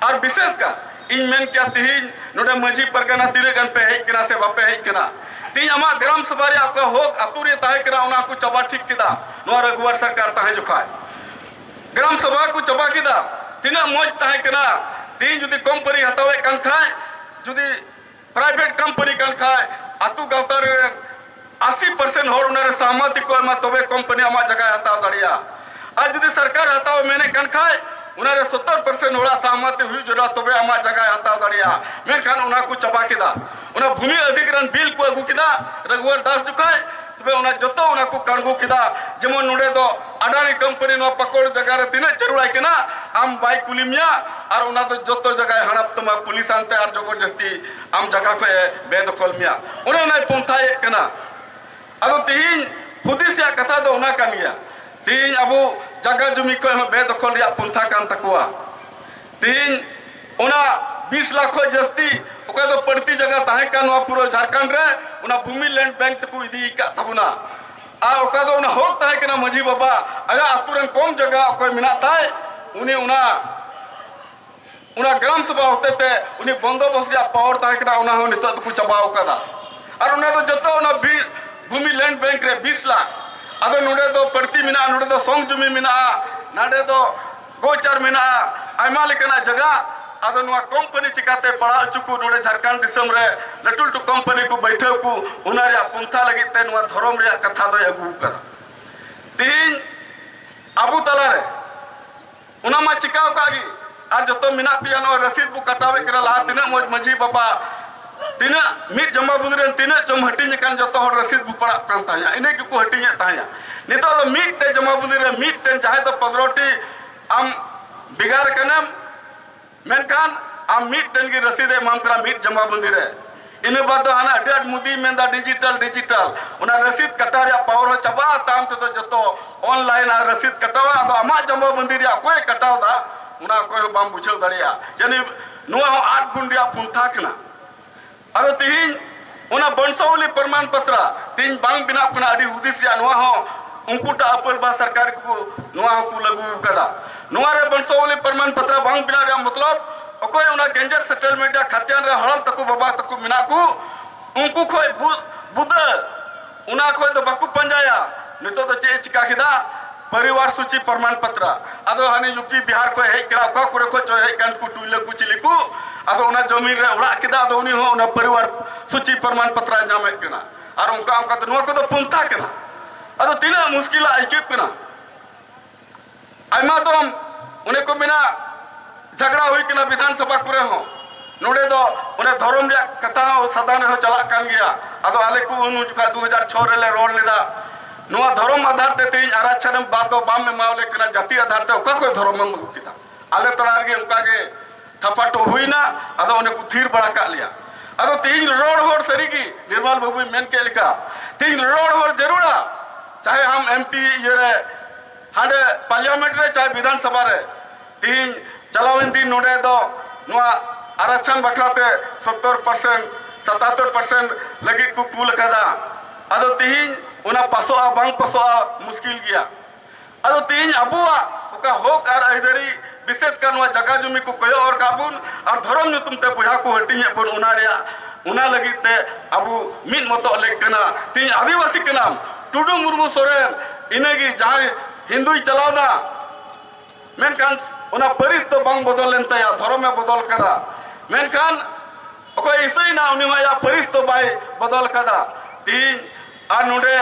ᱟᱨ ᱵᱤᱥᱮᱥ ᱠᱟᱨ ᱤᱧ ᱢᱮᱱ ᱠᱮᱭᱟ ᱛᱤᱦᱤᱧ ᱱᱚᱰᱮ ᱢᱟᱹᱡᱷᱤ ᱯᱟᱨᱜᱟᱱᱟ ᱛᱤᱱᱟᱹᱜ ᱜᱟᱱ ᱯᱮ ᱦᱮᱡ ᱠᱟᱱᱟ ᱥᱮ ᱵᱟᱯᱮ ᱦᱮᱡ ᱠᱟᱱᱟ ᱛᱤᱦᱤᱧ ᱟᱢᱟᱜ ᱜᱨᱟᱢ ᱥᱚᱵᱷᱟ ᱨᱮ ᱚᱠᱟ ᱦᱚᱠ ᱟᱛᱳ ᱨᱮ ᱛᱟᱦᱮᱸ ᱠᱟᱱᱟ ᱚᱱᱟ ᱠᱚ ᱪᱟᱵᱟ ᱴᱷᱤᱠ ᱠᱮᱫᱟ ᱱᱚᱣᱟ ᱨᱟᱹᱜᱷᱩᱣᱟᱨ ᱥᱚᱨᱠᱟᱨ ᱛᱟᱦᱮᱸ ᱡᱚᱠᱷᱟᱡ ᱜᱨᱟᱢ ᱥᱚᱵᱷᱟ ᱠᱚ ᱪᱟᱵᱟ ᱠᱮᱫᱟ ᱛᱤᱱᱟᱹᱜ ᱢᱚᱡᱽ ᱛᱟᱦᱮᱸ ᱠᱟᱱᱟ ᱛᱤᱦᱤᱧ ᱡᱩᱫᱤ ᱠᱚᱢᱯᱟᱹᱱᱤ ᱦᱟᱛᱟᱣᱮᱫ ᱠᱟᱱ ᱠᱷᱟᱡ ᱡᱩᱫᱤ ᱯᱨᱟᱭᱵᱷᱮᱴ ᱠᱚᱢᱯᱟᱱᱤ ᱠᱟᱱ ᱠᱷᱟᱡ ᱟᱛᱳ ᱜᱟᱶᱛᱟ ᱨᱮ ᱟᱥᱤ ᱯᱟᱨᱥᱮᱱᱴ ᱦᱚᱲ ᱚᱱᱟᱨᱮ ᱥᱟᱦᱢᱟᱛᱤ ᱠᱚ ᱮᱢᱟ ᱛᱚᱵᱮ ᱠᱚᱢᱯᱟᱱᱤ ᱟᱢᱟᱜ ᱡᱟᱭᱜᱟᱭ ᱦᱟᱛᱟᱣ ᱫᱟᱲᱮᱭᱟᱜᱼᱟ ᱟᱨ ᱡᱩᱫᱤ ᱥᱚᱨᱠᱟᱨ ᱦᱟᱛᱟᱣ ᱢᱮᱱᱮᱫ ᱠᱟᱱ ᱠᱷᱟᱡ ᱚᱱᱟᱨᱮ ᱥᱚᱛᱛᱚᱨ ᱯᱟᱨᱥᱮᱱᱴ ᱦᱚᱲᱟᱜ ᱥᱟᱦᱢᱟᱛᱤ ᱦᱩᱭᱩᱜ ᱡᱟᱹᱨᱩᱲᱟ ᱛᱚᱵᱮ ᱟᱢᱟᱜ ᱡᱟᱭᱜᱟᱭ ᱦᱟᱛᱟᱣ ᱫᱟᱲᱮᱭᱟᱜᱼᱟ ᱢᱮᱱᱠᱷᱟᱱ ᱚᱱᱟ ᱠᱚ ᱪᱟᱵᱟ ᱠᱮᱫᱟ ᱚᱱᱟ ᱵᱷᱩᱢᱤ ᱚᱫᱷᱤᱜᱨᱚᱦᱚᱱ ᱵᱤᱞ ᱠᱚ ᱟᱹᱜᱩ ᱠᱮᱫᱟ ᱨᱟᱜᱷᱩᱣᱚᱨ ᱫᱟᱥ ᱡᱚᱠᱷᱟᱡ ᱛᱚᱵᱮ ᱚᱱᱟ ᱡᱚᱛᱚ ᱚᱱᱟ ᱠᱚ ᱠᱟᱬᱜᱩ ᱠᱮᱫᱟ ᱡᱮᱢᱚᱱ ᱱᱚᱰᱮ ᱫᱚ ᱟᱰᱟᱱᱤ ᱠᱳᱢᱯᱟᱱᱤ ᱱᱚᱣᱟ ᱯᱟᱠᱚᱲ ᱡᱟᱭᱜᱟ ᱨᱮ ᱛᱤᱱᱟᱹᱜ ᱡᱟᱹᱨᱩᱲᱟᱭ ᱠᱟᱱᱟ ᱟᱢ ᱵᱟᱭ ᱠᱩᱞᱤ ᱢᱮᱭᱟ ᱟᱨ ᱚᱱᱟ ᱫᱚ ᱡᱚᱛᱚ ᱡᱟᱭᱜᱟᱭ ᱦᱟᱲᱟᱯ ᱛᱟᱢᱟ ᱯᱩᱞᱤᱥ ᱟᱱᱛᱮ ᱟᱨ ᱡᱚᱵᱚᱨ ᱡᱟᱹᱥᱛᱤ ᱟᱢ ᱡᱟᱭᱜᱟ ᱠᱷᱚᱡ ᱮ ᱵᱮᱫᱚᱠᱷᱚᱞ ᱢᱮᱭᱟ ᱚᱱᱮ ᱚᱱᱟᱭ ᱯᱚᱱᱛᱷᱟᱭᱮᱫ ᱠᱟᱱᱟ ᱟᱫᱚ ᱛᱤᱦᱤᱧ ᱦᱩᱫᱤᱥ ᱨᱮᱭᱟᱜ ᱠᱟᱛᱷᱟ ᱫᱚ ᱚᱱᱟ ᱠᱟᱱ ᱜᱮᱭᱟ ᱛᱤᱦᱤᱧ ᱟᱵᱚ ᱡᱟᱭᱜᱟ ᱡᱩᱢᱤ ᱠᱷᱚᱡ ᱦᱚᱸ ᱵᱮᱫᱚᱠᱷᱚᱞ ᱨᱮᱭᱟᱜ ᱯᱚᱱᱛᱷᱟ ᱠᱟᱱ ᱛᱟᱠᱚᱣᱟ ᱛᱮᱦᱮᱧ ᱚᱱᱟ ᱵᱤᱥ ᱞᱟᱠᱷ ᱠᱷᱚᱱ ᱡᱟᱹᱥᱛᱤ ᱚᱠᱚᱭ ᱫᱚ ᱯᱟᱹᱲᱛᱤ ᱡᱟᱭᱜᱟ ᱛᱟᱦᱮᱸ ᱠᱟᱱ ᱱᱚᱣᱟ ᱯᱩᱨᱟᱹ ᱡᱷᱟᱲᱠᱷᱚᱸᱰ ᱨᱮ ᱚᱱᱟ ᱵᱷᱩᱢᱤ ᱞᱮᱱᱰ ᱵᱮᱝᱠ ᱛᱮᱠᱚ ᱤᱫᱤ ᱟᱠᱟᱫ ᱛᱟᱵᱚᱱᱟ ᱟᱨ ᱚᱠᱟ ᱫᱚ ᱚᱱᱟ ᱦᱚᱠ ᱛᱟᱦᱮᱸ ᱠᱟᱱᱟ ᱢᱟᱹᱡᱷᱤ ᱵᱟᱵᱟ ᱟᱭᱟᱜ ᱟᱛᱳ ᱨᱮᱱ ᱠᱚᱢ ᱡᱟᱭᱜᱟ ᱚᱠᱚᱭ ᱢᱮᱱᱟᱜ ᱛᱟᱭ ᱩᱱᱤ ᱚᱱᱟ ᱚᱱᱟ ᱜᱨᱟᱢ ᱥᱚᱵᱷᱟ ᱦᱚᱛᱮ ᱛᱮ ᱩᱱᱤ ᱵᱚᱱᱫᱚᱵᱚᱥ ᱨᱮᱭᱟᱜ ᱯᱟᱣᱟᱨ ᱛᱟᱦᱮᱸ ᱠᱟᱱᱟ ᱚᱱᱟ ᱦᱚᱸ ᱱᱤᱛᱚᱜ ᱫᱚᱠᱚ ᱪᱟᱵᱟ ᱟᱠᱟᱫᱟ ᱟᱨ ᱚᱱᱟ ᱫᱚ ᱡᱚᱛᱚ ᱚᱱᱟ ᱵᱤ- ᱵᱷᱩᱢᱤ ᱞᱮᱱᱰ ᱵᱮᱝᱠ ᱨᱮ ᱵᱤᱥ ᱞᱟᱠᱷ ᱟᱫᱚ ᱱᱚᱰᱮ ᱫᱚ ᱯᱟᱹᱲᱛᱤ ᱢᱮᱱᱟᱜᱼᱟ ᱱᱚᱰᱮ ᱫᱚ ᱥᱚᱝ ᱡᱩᱢᱤ ᱢᱮᱱᱟᱜᱼᱟ ᱱᱚᱰᱮ ᱫᱚ ᱜᱳᱪᱟᱨ ᱢᱮᱱᱟᱜᱼᱟ ᱟᱭᱢᱟ ᱞᱮᱠᱟᱱᱟᱜ ᱡᱟᱭᱜᱟ ᱟᱫᱚ ᱱᱚᱣᱟ ᱠᱚᱢᱯᱟᱹᱱᱤ ᱪᱤᱠᱟᱹᱛᱮ ᱯᱟᱲᱟᱣ ᱦᱚᱪᱚ ᱠᱚ ᱱᱚᱰᱮ ᱡᱷᱟᱲᱠᱷᱚᱸᱰ ᱫᱤᱥᱚᱢ ᱨᱮ ᱞᱟᱹᱴᱩ ᱞᱟᱹᱴᱩ ᱠᱚᱢᱯᱟᱹᱱᱤ ᱠᱚ ᱵᱟᱹᱭᱴᱷᱟᱹᱣ ᱠᱚ ᱚᱱᱟ ᱨᱮᱭᱟᱜ ᱯᱚᱱᱛᱷᱟ ᱞᱟᱹᱜᱤᱫ ᱛᱮ ᱱᱚᱣᱟ ᱫᱷᱚᱨᱚᱢ ᱨᱮᱭᱟᱜ ᱠᱟᱛᱷᱟ ᱫᱚᱭ ᱟᱹᱜᱩ ᱟᱠᱟᱫᱟ ᱛᱤᱦᱤᱧ ᱟᱵᱚ ᱛᱟᱞᱟᱨᱮ ᱚᱱᱟ ᱢᱟ ᱪᱤᱠᱟᱹ ᱟᱠᱟᱫ ᱜᱮ ᱟᱨ ᱡᱚᱛᱚ ᱢᱮᱱᱟᱜ ᱯᱮᱭᱟ ᱱᱚᱣᱟ ᱨᱚᱥᱤᱫ ᱵᱚ ᱠᱟᱴᱟᱣᱮᱫ ᱠᱟᱱᱟ ᱞᱟᱦᱟ ᱛᱤᱱᱟᱹᱜ ᱢᱚᱡᱽ ᱢᱟᱹᱡᱷᱤ ᱵᱟᱵᱟ ᱛᱤᱱᱟᱹᱜ ᱢᱤᱫ ᱡᱚᱢᱟ ᱵᱩᱫᱽ ᱨᱮᱱ ᱛᱤᱱᱟᱹᱜ ᱪᱚᱢ ᱦᱟᱹᱴᱤᱧ ᱟᱠᱟᱱ ᱡᱚᱛᱚ ᱦᱚᱲ ᱨᱟᱹᱥᱤᱫ ᱵᱚ ᱯᱟᱲᱟᱜ ᱠᱟᱱ ᱛᱟᱦᱮᱸᱫ ᱤᱱᱟᱹ ᱜᱮᱠᱚ ᱦᱟᱹᱴᱤᱧᱮᱫ ᱛᱟᱦᱮᱸᱫ ᱱᱤᱛᱚᱜ ᱫᱚ ᱢᱤᱫᱴᱮᱱ ᱡᱚᱢᱟ ᱵᱩᱫᱽ ᱨᱮ ᱢᱤᱫᱴᱮᱱ ᱡᱟᱦᱟᱸᱭ ᱫᱚ ᱯᱚᱱᱨᱚᱴᱤ ᱟᱢ ᱵᱷᱮᱜᱟᱨ ᱠᱟᱱᱟᱢ ᱢᱮᱱᱠᱷᱟᱱ ᱟᱢ ᱢᱤᱫᱴᱮᱱ ᱜᱮ ᱨᱟᱹᱥᱤᱫ ᱮ ᱮᱢᱟᱢ ᱠᱟᱱᱟ ᱢᱤᱫ ᱡᱚᱢᱟ ᱵᱩᱫᱽ ᱨᱮ ᱤᱱᱟᱹ ᱵᱟᱫᱽ ᱫᱚ ᱦᱟᱱᱟ ᱟᱹᱰᱤ ᱟᱸᱴ ᱢᱳᱫᱤᱭ ᱢᱮᱱᱫᱟ ᱰᱤᱡᱤᱴᱟᱞ ᱰᱤᱡᱤᱴᱟᱞ ᱚᱱᱟ ᱨᱟᱹᱥᱤᱫ ᱠᱟᱴᱟᱣ ᱨᱮᱭᱟᱜ ᱯᱟᱣᱟᱨ ᱦᱚᱸ ᱪᱟᱵᱟᱜᱼᱟ ᱛᱟᱭᱚᱢ ᱛᱮᱫᱚ ᱡᱚᱛᱚ ᱚᱱᱞᱟᱭᱤᱱ ᱟᱨ ᱨᱟᱹᱥᱤᱫ ᱠᱟᱴᱟᱣᱟ ᱟᱫᱚ ᱟᱢᱟᱜ ᱡᱚᱢᱟ ᱵᱩᱫᱽ ᱨᱮᱭᱟᱜ ᱚᱠᱚᱭᱮ ᱠᱟᱴᱟᱣᱫᱟ ᱚᱱᱟ ᱚᱠᱚᱭ ᱦᱚᱸ ᱵᱟᱢ ᱵᱩᱡᱷᱟᱹᱣ ᱫᱟᱲᱮᱭᱟᱜᱼᱟ ᱡᱟᱹᱱᱤᱡ ᱱᱚᱣᱟ ᱦᱚᱸ ᱟᱫ ᱵᱩᱱ ᱨᱮᱭᱟᱜ ᱯᱚᱱᱛᱷᱟ ᱠᱟᱱᱟ ᱟᱫᱚ ᱛᱤᱦᱤᱧ ᱚᱱᱟ ᱵᱚᱝᱥᱟᱣᱞᱤ ᱯᱨᱚᱢᱟᱱ ᱯᱟᱛᱨᱟ ᱛᱤᱦᱤᱧ ᱵᱟᱝ ᱵᱮᱱᱟᱜ ᱠᱟᱱᱟ ᱟᱹᱰᱤ ᱦᱩᱫᱤᱥ ᱨᱮᱭᱟᱜ ᱱᱚᱣᱟ ᱦᱚᱸ ᱩᱱᱠᱩ ᱴᱟᱜ ᱟᱯᱟᱞ ᱵᱟ ᱥᱚᱨᱠᱟᱨ ᱠᱚ ᱱᱚᱣᱟ ᱦᱚᱸᱠᱚ ᱞᱟᱹᱜᱩ ᱟᱠᱟᱫᱟ ᱱᱚᱣᱟ ᱨᱮ ᱵᱚᱝᱥᱟᱣᱞᱤ ᱯᱨᱚᱢᱟᱱ ᱯᱟᱛᱨᱟ ᱵᱟᱝ ᱵᱮᱱᱟᱣ ᱨᱮᱭᱟᱜ ᱢᱚᱛᱞᱚᱵ ᱚᱠᱚᱭ ᱚᱱᱟ ᱜᱮᱧᱡᱮᱨ ᱥᱮᱴᱮᱞᱢᱮᱱᱴ ᱨᱮᱭᱟᱜ ᱠᱷᱟᱛᱤᱭᱟᱱ ᱨᱮ ᱦᱟᱲᱟᱢ ᱛᱟᱠᱚ ᱵᱟᱵᱟ ᱛᱟᱠᱚ ᱢᱮᱱᱟᱜ ᱠᱚ ᱩᱱᱠᱩ ᱠᱷᱚᱡ ᱵᱩᱫᱟᱹ ᱚᱱᱟ ᱠᱷᱚᱡ ᱫᱚ ᱵᱟᱠᱚ ᱯᱟᱸᱡᱟᱭᱟ ᱱᱤᱛᱚᱜ ᱫᱚ ᱪᱮᱫ ᱮ ᱪᱤᱠᱟ ᱠᱮᱫᱟ ᱯᱚᱨᱤᱵᱟᱨ ᱥᱩᱪᱤ ᱯᱨᱚᱢᱟᱱ ᱯᱚᱛᱨᱟ ᱟᱫᱚ ᱦᱟᱱᱮ ᱭᱩᱯᱤ ᱵᱤᱦᱟᱨ ᱠᱷᱚᱡ ᱦᱮᱡ ᱠᱟᱱᱟ ᱚᱠᱟ ᱠᱚᱨᱮ ᱠᱷᱚᱡ ᱪᱚ ᱦᱮᱡ ᱠᱟᱱ ᱠᱚ ᱴᱩᱭᱞᱟᱹ ᱠᱚ ᱪᱤᱞᱤ ᱠᱚ ᱟᱫᱚ ᱚᱱᱟ ᱡᱚᱢᱤᱱ ᱨᱮ ᱚᱲᱟᱜ ᱠᱮᱫᱟ ᱟᱫᱚ ᱩᱱᱤ ᱦᱚᱸ ᱚᱱᱟ ᱯᱚᱨᱤᱵᱟᱨ ᱥᱩᱪᱤ ᱯᱨᱚᱢᱟᱱ ᱯᱚᱛᱨᱟᱭ ᱧᱟᱢᱮᱫ ᱠᱟᱱᱟ ᱟᱨ ᱚᱱᱠᱟ ᱚᱱᱠᱟ ᱛᱮ ᱱᱚᱣᱟ ᱠᱚᱫᱚ ᱯᱚᱱᱛᱷᱟ ᱠᱟᱱᱟ ᱟᱫᱚ ᱛᱤᱱᱟᱹᱜ ᱢᱩᱥᱠᱤᱞᱟᱜ ᱟᱹᱭᱠᱟᱹᱜ ᱠᱟᱱᱟ ᱟᱭᱢᱟ ᱫᱚᱢ ᱚᱱᱮ ᱠᱚ ᱢᱮᱱᱟ ᱡᱷᱟᱜᱽᱲᱟ ᱦᱩᱭ ᱠᱟᱱᱟ ᱵᱤᱫᱷᱟᱱ ᱥᱚᱵᱷᱟ ᱠᱚᱨᱮ ᱦᱚᱸ ᱱᱚᱰᱮ ᱫᱚ ᱚᱱᱮ ᱫᱷᱚᱨᱚᱢ ᱨᱮᱭᱟᱜ ᱠᱟᱛᱷᱟ ᱦᱚᱸ ᱥᱟᱫᱟᱱ ᱨᱮᱦᱚᱸ ᱪᱟᱞᱟᱜ ᱠᱟᱱ ᱜᱮᱭᱟ ᱟᱫᱚ ᱟᱞᱮ ᱠᱚ ᱩᱱ ᱡᱚᱠᱷᱟᱡ ᱫᱩ ᱦᱟᱡᱟᱨ ᱪᱷᱚ ᱨᱮᱞᱮ ᱨᱚᱲ ᱞᱮᱫᱟ ᱱᱚᱣᱟ ᱫᱷᱚᱨᱚᱢ ᱟᱫᱷᱟᱨ ᱛᱮ ᱛᱮᱦᱮᱧ ᱟᱨᱟᱪᱷᱟᱱ ᱮᱢ ᱵᱟᱫ ᱫᱚ ᱵᱟᱢ ᱮᱢᱟᱣᱞᱮ ᱠᱟᱱᱟ ᱡᱟᱹᱛᱤ ᱟᱫᱷᱟᱨ ᱛᱮ ᱚᱠᱟ ᱠᱷᱚᱡ ᱫᱷᱚᱨᱚᱢ ᱮᱢ ᱟᱹᱜᱩ ᱠᱮᱫᱟ ᱟᱞᱮ ᱛᱟᱞᱟ ᱨᱮᱜᱮ ᱚᱱᱠᱟ ᱜᱮ ᱛᱷᱟᱯᱟᱴᱚ ᱦᱩᱭᱱᱟ ᱟᱫᱚ ᱚᱱᱮ ᱠᱚ ᱛᱷᱤᱨ ᱵᱟᱲᱟ ᱠᱟᱜ ᱞᱮᱭᱟ ᱟᱫᱚ ᱛᱮᱦᱮᱧ ᱨᱚᱲ ᱦᱚᱲ ᱥᱟᱹᱨᱤᱜᱮ ᱱᱤᱨᱢᱟᱞ ᱵᱟᱹᱵᱩᱭ ᱢᱮᱱ ᱠᱮᱫ ᱞᱮᱠᱟ ᱛᱮᱦᱮᱧ ᱨᱚᱲ ᱦᱚᱲ ᱡᱟᱹᱨᱩᱲᱟ ᱪᱟᱦᱮ ᱟᱢ ᱮᱢ ᱯᱤ ᱤᱭᱟᱹᱨᱮ ᱦᱟᱸᱰᱮ ᱯᱟᱨᱞᱤᱭᱟᱢᱮᱱᱴ ᱨᱮ ᱪᱟᱦᱮ ᱵᱤᱫᱷᱟᱱ ᱥᱚᱵᱷᱟ ᱨᱮ ᱛᱤᱦᱤᱧ ᱪᱟᱞᱟᱣᱮᱱ ᱫᱤᱱ ᱱᱚᱰᱮ ᱫᱚ ᱱᱚᱣᱟ ᱟᱨᱟᱪᱷᱟᱱ ᱵᱟᱠᱷᱨᱟ ᱛᱮ ᱥᱚᱛᱛᱚᱨ ᱯᱟᱨᱥᱮᱱᱴ ᱥᱟᱛᱟᱛᱛᱚᱨ ᱯᱟᱨᱥᱮᱱᱴ ᱞᱟᱹᱜᱤᱫ ᱠᱚ ᱠᱩᱞ ᱟᱠᱟᱫᱟ ᱟᱫᱚ ᱛᱤᱦᱤᱧ ᱚᱱᱟ ᱯᱟᱥᱚᱜᱼᱟ ᱵᱟᱝ ᱯᱟᱥᱚᱜᱼᱟ ᱢᱩᱥᱠᱤᱞ ᱜᱮᱭᱟ ᱟᱫᱚ ᱛᱤᱦᱤᱧ ᱟᱵᱚᱣᱟᱜ ᱚᱠᱟ ᱦᱚᱸᱠ ᱟᱨ ᱟᱹᱭᱫᱟᱹᱨᱤ ᱵᱤᱥᱮᱥ ᱠᱟᱨ ᱱᱚᱣᱟ ᱡᱟᱜᱟ ᱡᱩᱢᱤ ᱠᱚ ᱠᱚᱭᱚᱜ ᱦᱚᱨ ᱠᱟᱜ ᱵᱚᱱ ᱟᱨ ᱫᱷᱚᱨᱚᱢ ᱧᱩᱛᱩᱢ ᱛᱮ ᱵᱚᱭᱦᱟ ᱠᱚ ᱦᱟᱹᱴᱤᱧᱮᱫ ᱵᱚᱱ ᱚᱱᱟ ᱨᱮᱭᱟᱜ ᱚᱱᱟ ᱞᱟᱹᱜᱤᱫ ᱛᱮ ᱟᱵᱚ ᱢᱤᱫ ᱢᱚᱛᱚᱜ ᱞᱮᱠ ᱠᱟᱱᱟ ᱛᱮᱦᱤᱧ ᱟᱹᱫᱤᱵᱟᱹᱥᱤ ᱠᱟᱱᱟᱢ ᱴᱩᱰᱩ ᱢᱩᱨᱢᱩ ᱥᱚᱨᱮᱱ ᱤᱱᱟᱹᱜᱮ ᱡᱟᱦᱟᱸᱭ ᱦᱤᱱᱫᱩᱭ ᱪᱟᱞᱟᱣᱱᱟ ᱢᱮᱱᱠᱷᱟᱱ ᱚᱱᱟ ᱯᱟᱹᱨᱤᱥ ᱫᱚ ᱵᱟᱝ ᱵᱚᱫᱚᱞ ᱞᱮᱱ ᱛᱟᱭᱟ ᱫᱷᱚᱨᱚᱢᱮ ᱵᱚᱫᱚᱞ ᱠᱟᱫᱟ ᱢᱮᱱᱠᱷᱟᱱ ᱚᱠᱚᱭ ᱤᱥᱟᱹᱭᱱᱟ ᱩᱱᱤ ᱢᱟ ᱟᱭᱟᱜ ᱯᱟᱹᱨᱤᱥ ᱫᱚ ᱵᱟᱭ ᱵᱚᱫᱚᱞ ᱠᱟᱫᱟ ᱛᱮᱦᱤᱧ ᱟᱨ ᱱᱚᱰᱮ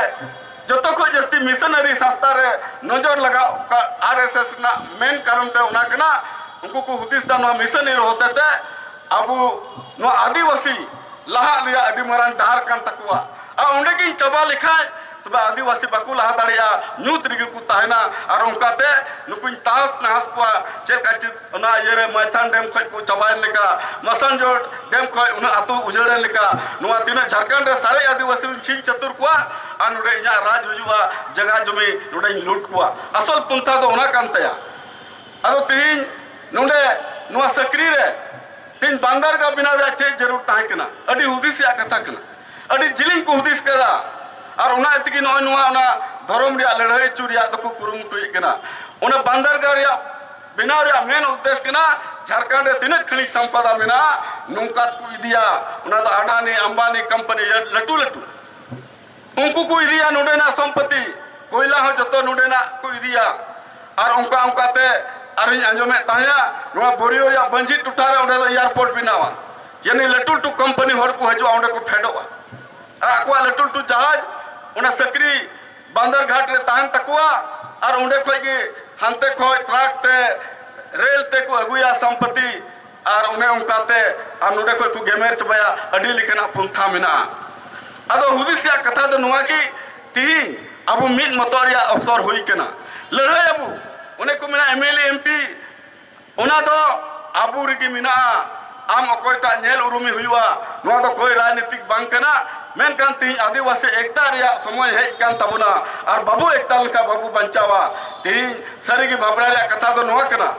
ᱡᱚᱛᱚ ᱠᱷᱚᱱ ᱡᱟᱹᱥᱛᱤ ᱢᱤᱥᱚᱱᱟᱨᱤ ᱥᱟᱥᱛᱟ ᱨᱮ ᱱᱚᱡᱚᱨ ᱞᱟᱜᱟᱣ ᱠᱟᱜ ᱟᱨ ᱮᱥ ᱮᱥ ᱨᱮᱱᱟᱜ ᱢᱮᱱ ᱠᱟᱨᱚᱱ ᱛᱮ ᱚᱱᱟ ᱠᱟᱱᱟ ᱩᱱᱠᱩ ᱠᱚ ᱦᱩᱫᱤᱥ ᱫᱟ ᱱᱚᱣᱟ ᱢᱤᱥᱚᱱᱟᱨᱤ ᱦᱚᱛᱮ ᱛᱮ ᱟᱵᱚ ᱱᱚᱣᱟ ᱟᱹᱫᱤᱵᱟᱹᱥᱤ ᱞᱟᱦᱟᱜ ᱨᱮᱭᱟᱜ ᱟᱹᱰᱤ ᱢᱟᱨᱟᱝ ᱰᱟᱦᱟᱨ ᱠᱟᱱ ᱛᱟᱠᱚᱣᱟ ᱟᱨ ᱚᱸᱰᱮ ᱜᱤᱧ ᱪᱟᱵᱟ ᱞᱮᱠᱷᱟᱡ ᱛᱚᱵᱮ ᱟᱹᱫᱤᱵᱟᱹᱥᱤ ᱵᱟᱠᱚ ᱞᱟᱦᱟ ᱫᱟᱲᱮᱭᱟᱜᱼᱟ ᱧᱩᱛ ᱨᱮᱜᱮ ᱠᱚ ᱛᱟᱦᱮᱱᱟ ᱟᱨ ᱚᱱᱠᱟᱛᱮ ᱱᱩᱠᱩᱧ ᱛᱟᱦᱚᱥ ᱱᱟᱦᱚᱥ ᱠᱚᱣᱟ ᱪᱮᱫ ᱞᱮᱠᱟ ᱚᱱᱟ ᱤᱭᱟᱹ ᱨᱮ ᱢᱟᱭᱛᱷᱟᱱ ᱰᱮᱢ ᱠᱷᱚᱡ ᱠᱚ ᱪᱟᱵᱟᱭᱮᱱ ᱞᱮᱠᱟ ᱢᱟᱥᱟᱱᱡᱳᱲ ᱰᱮᱢ ᱠᱷᱚᱡ ᱩᱱᱟᱹᱜ ᱟᱛᱳ ᱩᱡᱟᱹᱲᱮᱱ ᱞᱮᱠᱟ ᱱᱚᱣᱟ ᱛᱤᱱᱟᱹᱜ ᱡᱷᱟᱲᱠᱷᱚᱸᱰ ᱨᱮ ᱥᱟᱨᱮᱡ ᱟᱹᱫᱤᱵᱟᱹᱥᱤ ᱦᱚᱸᱧ ᱪᱷᱤᱝ ᱪᱷᱟᱹᱛᱩᱨ ᱠᱚᱣᱟ ᱟᱨ ᱱᱚᱰᱮ ᱤᱧᱟᱹᱜ ᱨᱟᱡᱽ ᱦᱩᱭᱩᱜᱼᱟ ᱡᱟᱭᱜᱟ ᱡᱚᱢᱤ ᱱᱚᱰᱮᱧ ᱞᱩᱴ ᱠᱚᱣᱟ ᱟᱥᱚᱞ ᱯᱚᱱᱛᱷᱟ ᱫᱚ ᱚᱱᱟ ᱠᱟᱱ ᱛᱟᱭᱟ ᱟᱫᱚ ᱛᱮᱦᱤᱧ ᱱᱚᱰᱮ ᱱᱚᱣᱟ ᱥᱟᱹᱠᱨᱤ ᱨᱮ ᱛᱮᱦᱤᱧ ᱵᱟᱱᱫᱟᱨᱜᱟ ᱵᱮᱱᱟᱣ ᱨᱮᱭᱟᱜ ᱪᱮᱫ ᱡᱟᱹᱨᱩᱲ ᱛᱟᱦᱮᱸ ᱠᱟᱱᱟ ᱟᱹᱰᱤ ᱦᱩᱫᱤᱥ ᱨᱮᱭᱟᱜ ᱠᱟᱛᱷᱟ ᱠᱟᱱᱟ ᱟᱹᱰᱤ ᱡᱤᱞᱤᱧ ᱠᱚ ᱦᱩᱫᱤᱥ ᱠᱟᱫᱟ ᱟᱨ ᱚᱱᱟ ᱛᱮᱜᱮ ᱱᱚᱜᱼᱚᱭ ᱱᱚᱣᱟ ᱚᱱᱟ ᱫᱷᱚᱨᱚᱢ ᱨᱮᱭᱟᱜ ᱞᱟᱹᱲᱦᱟᱹᱭ ᱦᱚᱪᱚ ᱨᱮᱭᱟᱜ ᱫᱚᱠᱚ ᱠᱩᱨᱩᱢᱩᱴᱩᱭᱮᱫ ᱠᱟᱱᱟ ᱚᱱᱟ ᱵᱟᱱᱫᱟᱨᱜᱟ ᱨᱮᱭᱟᱜ ᱵᱮᱱᱟᱣ ᱨᱮᱭᱟᱜ ᱢᱮᱱ ᱩᱫᱽᱫᱮᱥ ᱠᱟᱱᱟ ᱡᱷᱟᱲᱠᱷᱚᱸᱰ ᱨᱮ ᱛᱤᱱᱟᱹᱜ ᱠᱷᱟᱹᱱᱤᱡ ᱥᱟᱢᱯᱟᱫᱟ ᱢᱮᱱᱟᱜᱼᱟ ᱱᱚᱝᱠᱟ ᱛᱮᱠᱚ ᱤᱫᱤᱭᱟ ᱚᱱᱟ ᱫᱚ ᱟᱰᱟᱱᱤ ᱟᱢᱵᱟᱱᱤ ᱠᱳᱢᱯᱟᱱᱤ ᱞᱟᱹᱴᱩ ᱞᱟᱹᱴᱩ ᱩᱱᱠᱩ ᱠᱚ ᱤᱫᱤᱭᱟ ᱱᱚᱰᱮᱱᱟᱜ ᱥᱚᱢᱯᱚᱛᱤ ᱠᱚᱭᱞᱟ ᱦᱚᱸ ᱡᱚᱛᱚ ᱱᱚᱰᱮᱱᱟᱜ ᱠᱚ ᱤᱫᱤᱭᱟ ᱟᱨ ᱚᱱᱠᱟ ᱚᱱᱠᱟᱛᱮ ᱟᱨᱤᱧ ᱟᱸᱡᱚᱢᱮᱫ ᱛᱟᱦᱮᱸᱫᱼᱟ ᱱᱚᱣᱟ ᱵᱳᱨᱤᱭᱳ ᱨᱮᱭᱟᱜ ᱵᱟᱹᱧᱡᱤ ᱴᱚᱴᱷᱟ ᱨᱮ ᱚᱸᱰᱮ ᱫᱚ ᱮᱭᱟᱨᱯᱳᱨᱴ ᱵᱮᱱᱟᱣᱟ ᱡᱟᱹᱱᱤ ᱞᱟᱹᱴᱩ ᱞᱟᱹᱴᱩ ᱠᱳᱢᱯᱟᱱᱤ ᱦᱚᱲ ᱠᱚ ᱦᱤᱡᱩᱜᱼᱟ ᱚᱸᱰᱮ ᱠᱚ ᱯᱷᱮᱰᱚᱜᱼᱟ ᱟᱨ ᱟᱠᱚᱣᱟᱜ ᱞᱟᱹᱴᱩ ᱞᱟᱹᱴᱩ ᱡᱟᱦᱟᱡᱽ ᱚᱱᱟ ᱥᱟᱹᱠᱨᱤ ᱵᱟᱸᱫᱚᱨ ᱜᱷᱟᱴ ᱨᱮ ᱛᱟᱦᱮᱱ ᱛᱟᱠᱚᱣᱟ ᱟᱨ ᱚᱸᱰᱮ ᱠᱷᱚᱡ ᱜᱮ ᱦᱟᱱᱛᱮ ᱠᱷᱚᱡ ᱴᱨᱟᱠ ᱛᱮ ᱨᱮᱞ ᱛᱮ ᱠᱚ ᱟᱹᱜᱩᱭᱟ ᱥᱚᱢᱯᱚᱛᱤ ᱟᱨ ᱚᱱᱮ ᱚᱱᱠᱟᱛᱮ ᱟᱨ ᱱᱚᱸᱰᱮ ᱠᱷᱚᱡ ᱠᱚ ᱜᱮᱢᱮᱨ ᱪᱟᱵᱟᱭᱟ ᱟᱹᱰᱤ ᱞᱮᱠᱟᱱᱟᱜ ᱯᱚᱱᱛᱷᱟ ᱢᱮᱱᱟᱜᱼᱟ ᱟᱫᱚ ᱦᱩᱫᱤᱥ ᱨᱮᱭᱟᱜ ᱠᱟᱛᱷᱟ ᱫᱚ ᱱᱚᱣᱟ ᱜᱮ ᱛᱤᱦᱤᱧ ᱟᱵᱚ ᱢᱤᱫ ᱢᱚᱛᱚᱜ ᱨᱮᱭᱟᱜ ᱚᱯᱥᱚᱨ ᱦᱩᱭ ᱠᱟᱱᱟ ᱞᱟᱹᱲᱦᱟᱹᱭ ᱟᱵᱚ ᱚᱱᱮ ᱠᱚ ᱢᱮᱱᱟ ᱮᱢᱮᱞᱮ ᱮᱢᱯᱤ ᱚᱱᱟ ᱫᱚ ᱟᱵᱚ ᱨᱮᱜᱮ ᱢᱮᱱᱟᱜᱼᱟ ᱟᱢ ᱚᱠᱚᱭᱴᱟᱜ ᱧᱮᱞ ᱩᱨᱩᱢᱮ ᱦᱩᱭᱩᱜᱼᱟ ᱱᱚᱣᱟ ᱫᱚ ᱠᱚᱭ ᱨᱟᱡᱽᱱᱤᱛᱤᱠ ᱵᱟᱝ ᱠᱟᱱᱟ ᱢᱮᱱᱠᱷᱟᱱ ᱛᱮᱦᱮᱧ ᱟᱹᱫᱤᱵᱟᱹᱥᱤ ᱮᱠᱛᱟ ᱨᱮᱭᱟᱜ ᱥᱚᱢᱚᱭ ᱦᱮᱡ ᱠᱟᱱ ᱛᱟᱵᱚᱱᱟ ᱟᱨ ᱵᱟᱵᱚ ᱮᱠᱛᱟ ᱞᱮᱱᱠᱷᱟᱱ ᱵᱟᱵᱚ ᱵᱟᱧᱪᱟᱣᱟ ᱛᱮᱦᱮᱧ ᱥᱟᱹᱨᱤᱜᱮ ᱵᱷᱟᱵᱽᱱᱟ ᱨᱮᱭᱟᱜ ᱠᱟᱛᱷᱟ ᱫᱚ ᱱᱚᱣᱟ ᱠᱟᱱᱟ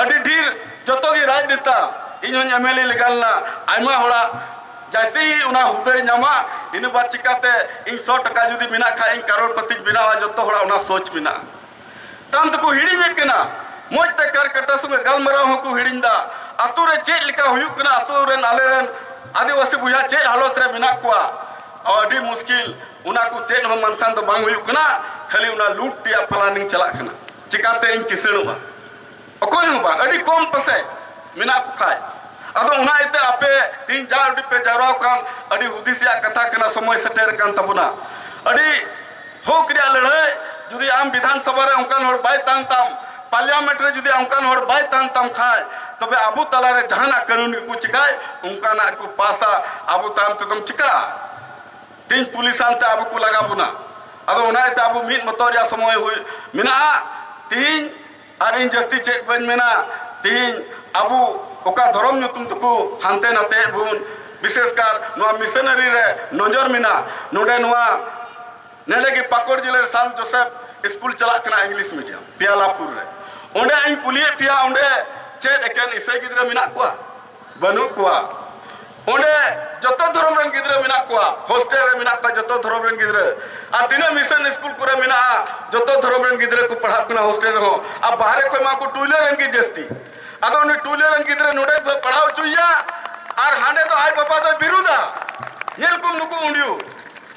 ᱟᱹᱰᱤ ᱰᱷᱮᱨ ᱡᱚᱛᱚ ᱜᱮ ᱨᱟᱡᱽᱱᱮᱛᱟ ᱤᱧ ᱦᱚᱸᱧ ᱮᱢ ᱮᱞ ᱮ ᱞᱮᱜᱟ ᱞᱮᱱᱟ ᱟᱭᱢᱟ ᱦᱚᱲᱟᱜ ᱡᱟᱭᱥᱮ ᱦᱤ ᱚᱱᱟ ᱦᱩᱫᱟᱹᱭ ᱧᱟᱢᱟ ᱤᱱᱟᱹ ᱵᱟᱫ ᱪᱤᱠᱟᱛᱮ ᱤᱧ ᱥᱚ ᱴᱟᱠᱟ ᱡᱩᱫᱤ ᱢᱮᱱᱟᱜ ᱠᱷᱟᱡ ᱤᱧ ᱠᱟᱨᱳᱲᱯᱚᱛᱤᱧ ᱵᱮᱱᱟᱣᱟ ᱡᱚᱛᱚ ᱦᱚᱲᱟᱜ ᱚᱱᱟ ᱥᱳᱪ ᱢᱮᱱᱟᱜᱼᱟ ᱠᱟᱱ ᱫᱚᱠᱚ ᱦᱤᱲᱤᱧᱮᱫ ᱠᱟᱱᱟ ᱢᱚᱡᱽ ᱛᱮ ᱠᱟᱨ ᱠᱟᱴᱟ ᱥᱚᱸᱜᱮ ᱜᱟᱞᱢᱟᱨᱟᱣ ᱦᱚᱸᱠᱚ ᱦᱤᱲᱤᱧ ᱫᱟ ᱟᱛᱳ ᱨᱮ ᱪᱮᱫ ᱞᱮᱠᱟ ᱦᱩᱭᱩᱜ ᱠᱟᱱᱟ ᱟᱛᱳ ᱨᱮᱱ ᱟᱞᱮ ᱨᱮᱱ ᱟᱹᱫᱤᱵᱟᱹᱥᱤ ᱵᱚᱭᱦᱟ ᱪᱮᱫ ᱦᱟᱞᱚᱛ ᱨᱮ ᱢᱮᱱᱟᱜ ᱠᱚᱣᱟ ᱟᱹᱰᱤ ᱢᱩᱥᱠᱤᱞ ᱚᱱᱟ ᱠᱚ ᱪᱮᱫ ᱦᱚᱸ ᱢᱟᱱᱛᱷᱟᱱ ᱫᱚ ᱵᱟᱝ ᱦᱩᱭᱩᱜ ᱠᱟᱱᱟ ᱠᱷᱟᱹᱞᱤ ᱚᱱᱟ ᱞᱩᱴ ᱨᱮᱭᱟᱜ ᱯᱞᱟᱱᱤᱝ ᱪᱟᱞᱟᱜ ᱠᱟᱱᱟ ᱪᱤᱠᱟᱛᱮ ᱤᱧ ᱠᱤᱥᱟᱹᱬᱚᱜᱼᱟ ᱚᱠᱚᱭ ᱦᱚᱸ ᱵᱟᱝ ᱟᱹᱰᱤ ᱠᱚᱢ ᱯᱟᱥᱮᱡ ᱢᱮᱱᱟᱜ ᱠᱚ ᱠᱷᱟᱡ ᱟᱫᱚ ᱚᱱᱟ ᱤᱭᱟᱹᱛᱮ ᱟᱯᱮ ᱛᱤᱦᱤᱧ ᱡᱟ ᱟᱹᱰᱤ ᱯᱮ ᱡᱟᱣᱨᱟᱣ ᱠᱟᱱ ᱟᱹᱰᱤ ᱦᱩᱫᱤᱥ ᱨᱮᱭᱟᱜ ᱠᱟᱛᱷᱟ ᱠᱟᱱᱟ ᱥᱚᱢᱚᱭ ᱥᱮᱴᱮᱨ ᱠᱟᱱ ᱛᱟᱵᱚᱱᱟ ᱟᱹᱰᱤ ᱦᱚᱠ ᱨᱮᱭᱟᱜ ᱞᱟᱹᱲᱦᱟᱹᱭ ᱡᱩᱫᱤ ᱟᱢ ᱵᱤᱫᱷᱟᱱ ᱥᱚᱵᱷᱟ ᱨᱮ ᱚᱱᱠᱟᱱ ᱦᱚᱲ ᱵᱟᱭ ᱛᱟᱦᱮᱱ ᱛᱟᱢ ᱯᱟᱨᱞᱤᱭᱟᱢᱮᱱᱴ ᱨᱮ ᱡᱩᱫᱤ ᱚᱱᱠᱟᱱ ᱦᱚᱲ ᱵᱟᱭ ᱛᱟᱦᱮᱱ ᱛᱟᱢ ᱠᱷᱟᱡ ᱛᱚᱵᱮ ᱟᱵᱚ ᱛᱟᱞᱟᱨᱮ ᱡᱟᱦᱟᱱᱟᱜ ᱠᱟᱹᱱᱩᱱ ᱜᱮᱠᱚ ᱪᱤᱠᱟᱭ ᱚᱱᱠᱟᱱᱟᱜ ᱠᱚ ᱯᱟᱥᱟ ᱟᱵᱚ ᱛᱟᱭᱚᱢ ᱛᱮᱫᱚᱢ ᱪᱤᱠᱟᱜᱼᱟ ᱛᱤᱦᱤᱧ ᱯᱩᱞᱤᱥ ᱟᱱᱛᱮ ᱟᱵᱚ ᱠᱚ ᱞᱟᱜᱟ ᱵᱚᱱᱟ ᱟᱫᱚ ᱚᱱᱟ ᱤᱭᱟᱹᱛᱮ ᱟᱵᱚ ᱢᱤᱫ ᱢᱚᱛᱚ ᱨᱮᱭᱟᱜ ᱥᱚᱢᱚᱭ ᱦᱩᱭ ᱢᱮᱱᱟᱜᱼᱟ ᱛᱤᱦᱤᱧ ᱟᱨ ᱤᱧ ᱡᱟᱹᱥᱛᱤ ᱪᱮᱫ ᱵᱟᱹᱧ ᱢᱮᱱᱟ ᱛᱮᱦᱮᱧ ᱟᱵᱚ ᱚᱠᱟ ᱫᱷᱚᱨᱚᱢ ᱧᱩᱛᱩᱢ ᱛᱮᱠᱚ ᱦᱟᱱᱛᱮ ᱱᱟᱛᱮᱭᱮᱫ ᱵᱚᱱ ᱵᱤᱥᱮᱥ ᱠᱟᱨ ᱱᱚᱣᱟ ᱢᱤᱥᱚᱱᱟᱨᱤ ᱨᱮ ᱱᱚᱡᱚᱨ ᱢᱮᱱᱟᱜᱼᱟ ᱱᱚᱰᱮ ᱱᱚᱣᱟ ᱱᱚᱰᱮ ᱜᱮ ᱯᱟᱠᱩᱲ ᱡᱮᱞᱟ ᱨᱮ ᱥᱟᱱᱛ ᱡᱳᱥᱮᱯᱷ ᱥᱠᱩᱞ ᱪᱟᱞᱟᱜ ᱠᱟᱱᱟ ᱤᱝᱞᱤᱥ ᱢᱤᱰᱤᱭᱟᱢ ᱯᱮᱭᱟᱞᱟᱯᱩᱨ ᱨᱮ ᱚᱸᱰᱮ ᱤᱧ ᱠᱩᱞᱤᱭᱮᱫ ᱯᱮᱭᱟ ᱚᱸᱰᱮ ᱪᱮᱫ ᱮᱠᱮᱱ ᱤᱥᱟᱹᱭ ᱜᱤᱫᱽᱨᱟᱹ ᱢᱮᱱᱟᱜ ᱠᱚᱣᱟ ᱵᱟᱹᱱᱩᱜ ᱠᱚᱣᱟ ᱚᱸᱰᱮ ᱡᱚᱛᱚ ᱫᱷᱚᱨᱚᱢ ᱨᱮᱱ ᱜᱤᱫᱽᱨᱟᱹ ᱢᱮᱱᱟᱜ ᱠᱚᱣᱟ ᱦᱳᱥᱴᱮᱞ ᱨᱮ ᱢᱮᱱᱟᱜ ᱠᱚᱣᱟ ᱡᱚᱛᱚ ᱫᱷᱚᱨᱚᱢ ᱨᱮᱱ ᱜᱤᱫᱽᱨᱟᱹ ᱟᱨ ᱛᱤᱱᱟᱹᱜ ᱢᱤᱥᱚᱱ ᱥᱠᱩᱞ ᱠᱚᱨᱮ ᱢᱮᱱᱟᱜᱼᱟ ᱡᱚᱛᱚ ᱫᱷᱚᱨᱚᱢ ᱨᱮᱱ ᱜᱤᱫᱽᱨᱟᱹ ᱠᱚ ᱯᱟᱲᱦᱟᱜ ᱠᱟᱱᱟ ᱦᱳᱥᱴᱮᱞ ᱨᱮᱦᱚᱸ ᱟᱨ ᱵᱟᱦᱨᱮ ᱠᱷᱚᱱ ᱢᱟ ᱠᱚ ᱴᱩᱭᱞᱟᱹ ᱨᱮᱱ ᱜᱮ ᱡᱟᱹᱥᱛᱤ ᱟᱫᱚ ᱩᱱᱤ ᱴᱩᱭᱞᱟᱹ ᱨᱮᱱ ᱜᱤᱫᱽᱨᱟᱹ ᱱᱚᱰᱮ ᱯᱟᱲᱦᱟᱣ ᱦᱚᱪᱚᱭᱮᱭᱟ ᱟᱨ ᱦᱟᱸᱰᱮ ᱫᱚ ᱟᱡ ᱵᱟᱵᱟ ᱫᱚᱭ ᱵᱤᱨᱩᱫᱟ ᱧᱮᱞ ᱠᱚᱢ ᱱᱩᱠᱩ ᱩᱸᱰᱤᱭᱩ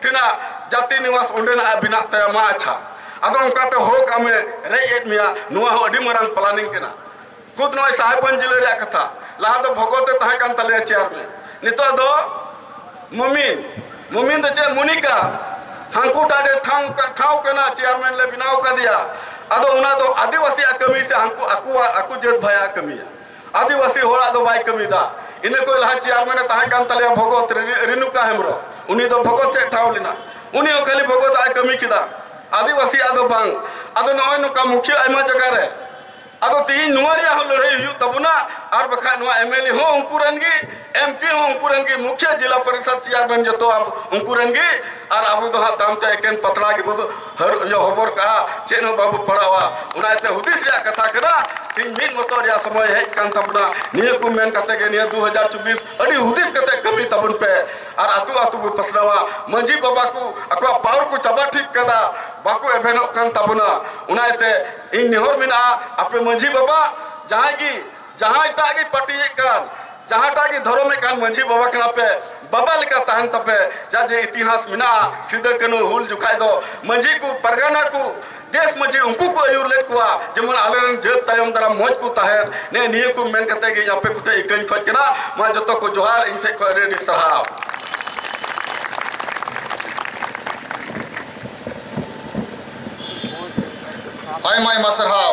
ᱛᱤᱱᱟᱹᱜ ᱡᱟᱹᱛᱤ ᱱᱤᱣᱟᱥ ᱚᱸᱰᱮᱱᱟᱜ ᱵᱮᱱᱟᱜ ᱛᱟᱭᱟ ᱢᱟ ᱟᱪᱪᱷᱟ ᱟᱫᱚ ᱚᱱᱠᱟᱛᱮ ᱦᱚᱠ ᱟᱢᱮ ᱨᱮᱡ ᱮᱫ ᱢᱮᱭᱟ ᱱᱚᱣᱟ ᱦᱚᱸ ᱟᱹᱰᱤ ᱢᱟᱨᱟᱝ ᱯᱞᱟᱱᱤᱝ ᱠᱟᱱᱟ ᱠᱷᱩᱫ ᱱᱚᱜᱼᱚᱭ ᱥᱟᱦᱮᱵᱽᱜᱚᱸᱡᱽ ᱡᱤᱞᱟᱹ ᱨᱮᱭᱟᱜ ᱠᱟᱛᱷᱟ ᱞᱟᱦᱟ ᱫᱚ ᱵᱷᱚᱜᱚᱛ ᱮ ᱛᱟᱦᱮᱸ ᱠᱟᱱ ᱛᱟᱞᱮᱭᱟ ᱪᱮᱭᱟᱨᱢᱮᱱ ᱱᱤᱛᱚᱜ ᱫᱚ ᱢᱩᱢᱤᱱ ᱢᱩᱢᱤᱱ ᱫᱚ ᱪᱮᱫ ᱢᱩᱱᱤᱠᱟ ᱦᱟᱝᱠᱩᱴᱟ ᱨᱮ ᱴᱷᱟᱶ ᱴᱷᱟᱶ ᱠᱟᱱᱟ ᱪᱮᱭᱟᱨᱢᱮᱱ ᱞᱮ ᱵᱮᱱᱟᱣ ᱠᱟᱫᱮᱭᱟ ᱟᱫᱚ ᱚᱱᱟ ᱫᱚ ᱟᱹᱫᱤᱵᱟᱹᱥᱤᱭᱟᱜ ᱠᱟᱹᱢᱤ ᱥᱮ ᱦᱟᱝᱠᱩ ᱟᱠᱚᱣᱟᱜ ᱟᱠᱚ ᱡᱟᱹᱛ ᱵᱷᱟᱭᱟᱜ ᱠᱟᱹᱢᱤᱭᱟ ᱟᱹᱫᱤᱵᱟᱹᱥᱤ ᱦᱚᱲᱟᱜ ᱫᱚ ᱵᱟᱭ ᱠᱟᱹᱢᱤᱫᱟ ᱤᱱᱟᱹ ᱠᱚ ᱞᱟᱦᱟ ᱪᱮᱭᱟᱨᱢᱮᱱ ᱮ ᱛᱟᱦᱮᱸ ᱠᱟᱱ ᱛᱟᱞᱮᱭᱟ ᱵᱷᱚᱜᱚᱛ ᱨᱮᱱᱩᱠᱟ ᱦᱮᱢᱵᱨᱚᱢ ᱩᱱᱤ ᱫᱚ ᱵᱷᱚᱜᱚᱛ ᱪᱮᱫ ᱴᱷᱟᱶ ᱞᱮᱱᱟ ᱩᱱᱤ ᱦᱚᱸ ᱠᱷᱟᱹᱞᱤ ᱵᱷᱚᱜᱚᱛ ᱟᱜ ᱠᱟᱹᱢᱤ ᱠᱮᱫᱟ ᱟᱹᱫᱤᱵᱟᱹᱥᱤ ᱟᱜ ᱫᱚ ᱵᱟᱝ ᱟᱫᱚ ᱱᱚᱜᱼᱚᱭ ᱱᱚᱝᱠᱟ ᱢᱩᱠᱷᱤᱭᱟᱹ ᱟᱭᱢᱟ ᱡᱟᱭᱜᱟ ᱨᱮ ᱟᱫᱚ ᱛᱤᱦᱤᱧ ᱱᱚᱣᱟ ᱨᱮᱭᱟᱜ ᱦᱚᱸ ᱞᱟᱹᱲᱦᱟᱹᱭ ᱦᱩᱭᱩᱜ ᱛᱟᱵᱚᱱᱟ ᱟᱨ ᱵᱟᱠᱷᱟᱡ ᱱᱚᱣᱟ ᱮᱢᱮᱞᱮ ᱦᱚᱸ ᱩᱱᱠᱩ ᱨᱮᱱ ᱜᱮ MP ᱦᱚᱸ ᱩᱱᱠᱩ ᱨᱮᱱ ᱜᱮ ᱢᱩᱠᱷᱭᱟᱹ ᱡᱤᱞᱟ ᱯᱚᱨᱤᱥᱚᱫ ᱪᱮᱭᱟᱨᱢᱮᱱ ᱡᱚᱛᱚ ᱩᱱᱠᱩ ᱨᱮᱱ ᱜᱮ ᱟᱨ ᱟᱵᱚ ᱫᱚ ᱦᱟᱸᱜ ᱛᱟᱭᱚᱢ ᱛᱮ ᱮᱠᱮᱱ ᱯᱟᱛᱲᱟ ᱜᱮᱵᱚ ᱦᱟᱹᱨ ᱤᱭᱟᱹ ᱦᱚᱵᱚᱨ ᱠᱟᱜᱼᱟ ᱪᱮᱫ ᱦᱚᱸ ᱵᱟᱵᱚ ᱯᱟᱲᱟᱣᱟ ᱚᱱᱟ ᱤᱭᱟᱹᱛᱮ ᱦᱩᱫᱤᱥ ᱨᱮᱭᱟᱜ ᱠᱟᱛᱷᱟ ᱠᱟᱱᱟ ᱛᱤᱦᱤᱧ ᱢᱤᱫ ᱢᱚᱛᱚ ᱨᱮᱭᱟᱜ ᱥᱚᱢᱚᱭ ᱦᱮᱡ ᱠᱟᱱ ᱛᱟᱵᱚᱱᱟ ᱱᱤᱭᱟᱹ ᱠᱚ ᱢᱮᱱ ᱠᱟᱛᱮ ᱜᱮ ᱱᱤᱭᱟᱹ ᱫᱩ ᱦᱟᱡᱟᱨ ᱪᱚᱵᱵᱤᱥ ᱟᱹᱰᱤ ᱦᱩᱫᱤᱥ ᱠᱟᱛᱮ ᱠᱟᱹᱢᱤ ᱛᱟᱵᱚᱱ ᱯᱮ ᱟᱨ ᱟᱛᱳ ᱟᱛᱳ ᱵᱚ ᱯᱟᱥᱱᱟᱣᱟ ᱢᱟᱺᱡᱷᱤ ᱵᱟᱵᱟ ᱠᱚ ᱟᱠᱚᱣᱟᱜ ᱯᱟᱣᱟᱨ ᱠᱚ ᱪᱟᱵᱟ ᱴᱷᱤᱠ ᱠᱟᱫᱟ ᱵᱟᱠᱚ ᱮᱵᱷᱮᱱᱚᱜ ᱠᱟᱱ ᱛᱟᱵᱚᱱᱟ ᱚᱱᱟ ᱤᱭᱟᱹᱛᱮ ᱤᱧ ᱱᱮᱦᱚᱨ ᱢᱮᱱᱟᱜᱼᱟ ᱟᱯᱮ ᱢᱟᱺᱡᱷᱤ ᱵᱟᱵᱟ ᱡᱟᱦᱟᱸᱭ ᱜᱮ ᱡᱟᱦᱟᱸᱭ ᱴᱟᱜ ᱜᱮ ᱯᱟᱹᱴᱤᱭᱮᱫ ᱠᱟᱱ ᱡᱟᱦᱟᱸ ᱴᱟᱜ ᱜᱮ ᱫᱷᱚᱨᱚᱢᱮᱫ ᱠᱟᱱ ᱢᱟᱹᱡᱷᱤ ᱵᱟᱵᱟ ᱠᱟᱱᱟ ᱯᱮ ᱵᱟᱵᱟ ᱞᱮᱠᱟ ᱛᱟᱦᱮᱱ ᱛᱟᱯᱮ ᱡᱟ ᱡᱮ ᱤᱛᱤᱦᱟᱥ ᱢᱮᱱᱟᱜᱼᱟ ᱥᱤᱫᱟᱹ ᱠᱟᱹᱱᱩ ᱦᱩᱞ ᱡᱚᱠᱷᱟᱡ ᱫᱚ ᱢᱟᱹᱡᱷᱤ ᱠᱚ ᱯᱟᱨᱜᱟᱱᱟ ᱠᱚ ᱫᱮᱥ ᱢᱟᱹᱡᱷᱤ ᱩᱱᱠᱩ ᱠᱚ ᱟᱹᱭᱩᱨ ᱞᱮᱫ ᱠᱚᱣᱟ ᱡᱮᱢᱚᱱ ᱟᱞᱮᱨᱮᱱ ᱡᱟᱹᱛ ᱛᱟᱭᱚᱢ ᱫᱟᱨᱟᱢ ᱢᱚᱡᱽ ᱠᱚ ᱛᱟᱦᱮᱱ ᱱᱮ ᱱᱤᱭᱟᱹ ᱠᱚ ᱢᱮᱱ ᱠᱟᱛᱮ ᱜᱮ ᱟᱯᱮ ᱠᱚᱴᱷᱮᱡ ᱤᱠᱟᱹᱧ ᱠᱷᱚᱡ ᱠᱟᱱᱟ ᱢᱟ ᱡᱚᱛᱚ ᱠᱚ ᱡᱚᱦᱟᱨ ᱤᱧ ᱥᱮᱡ ᱠᱷᱚᱡ ᱟᱹᱰᱤ ᱟᱹᱰᱤ ᱥᱟᱨᱦᱟᱣ ᱟᱭᱢᱟ ᱟᱭᱢᱟ ᱥᱟᱨᱦᱟᱣ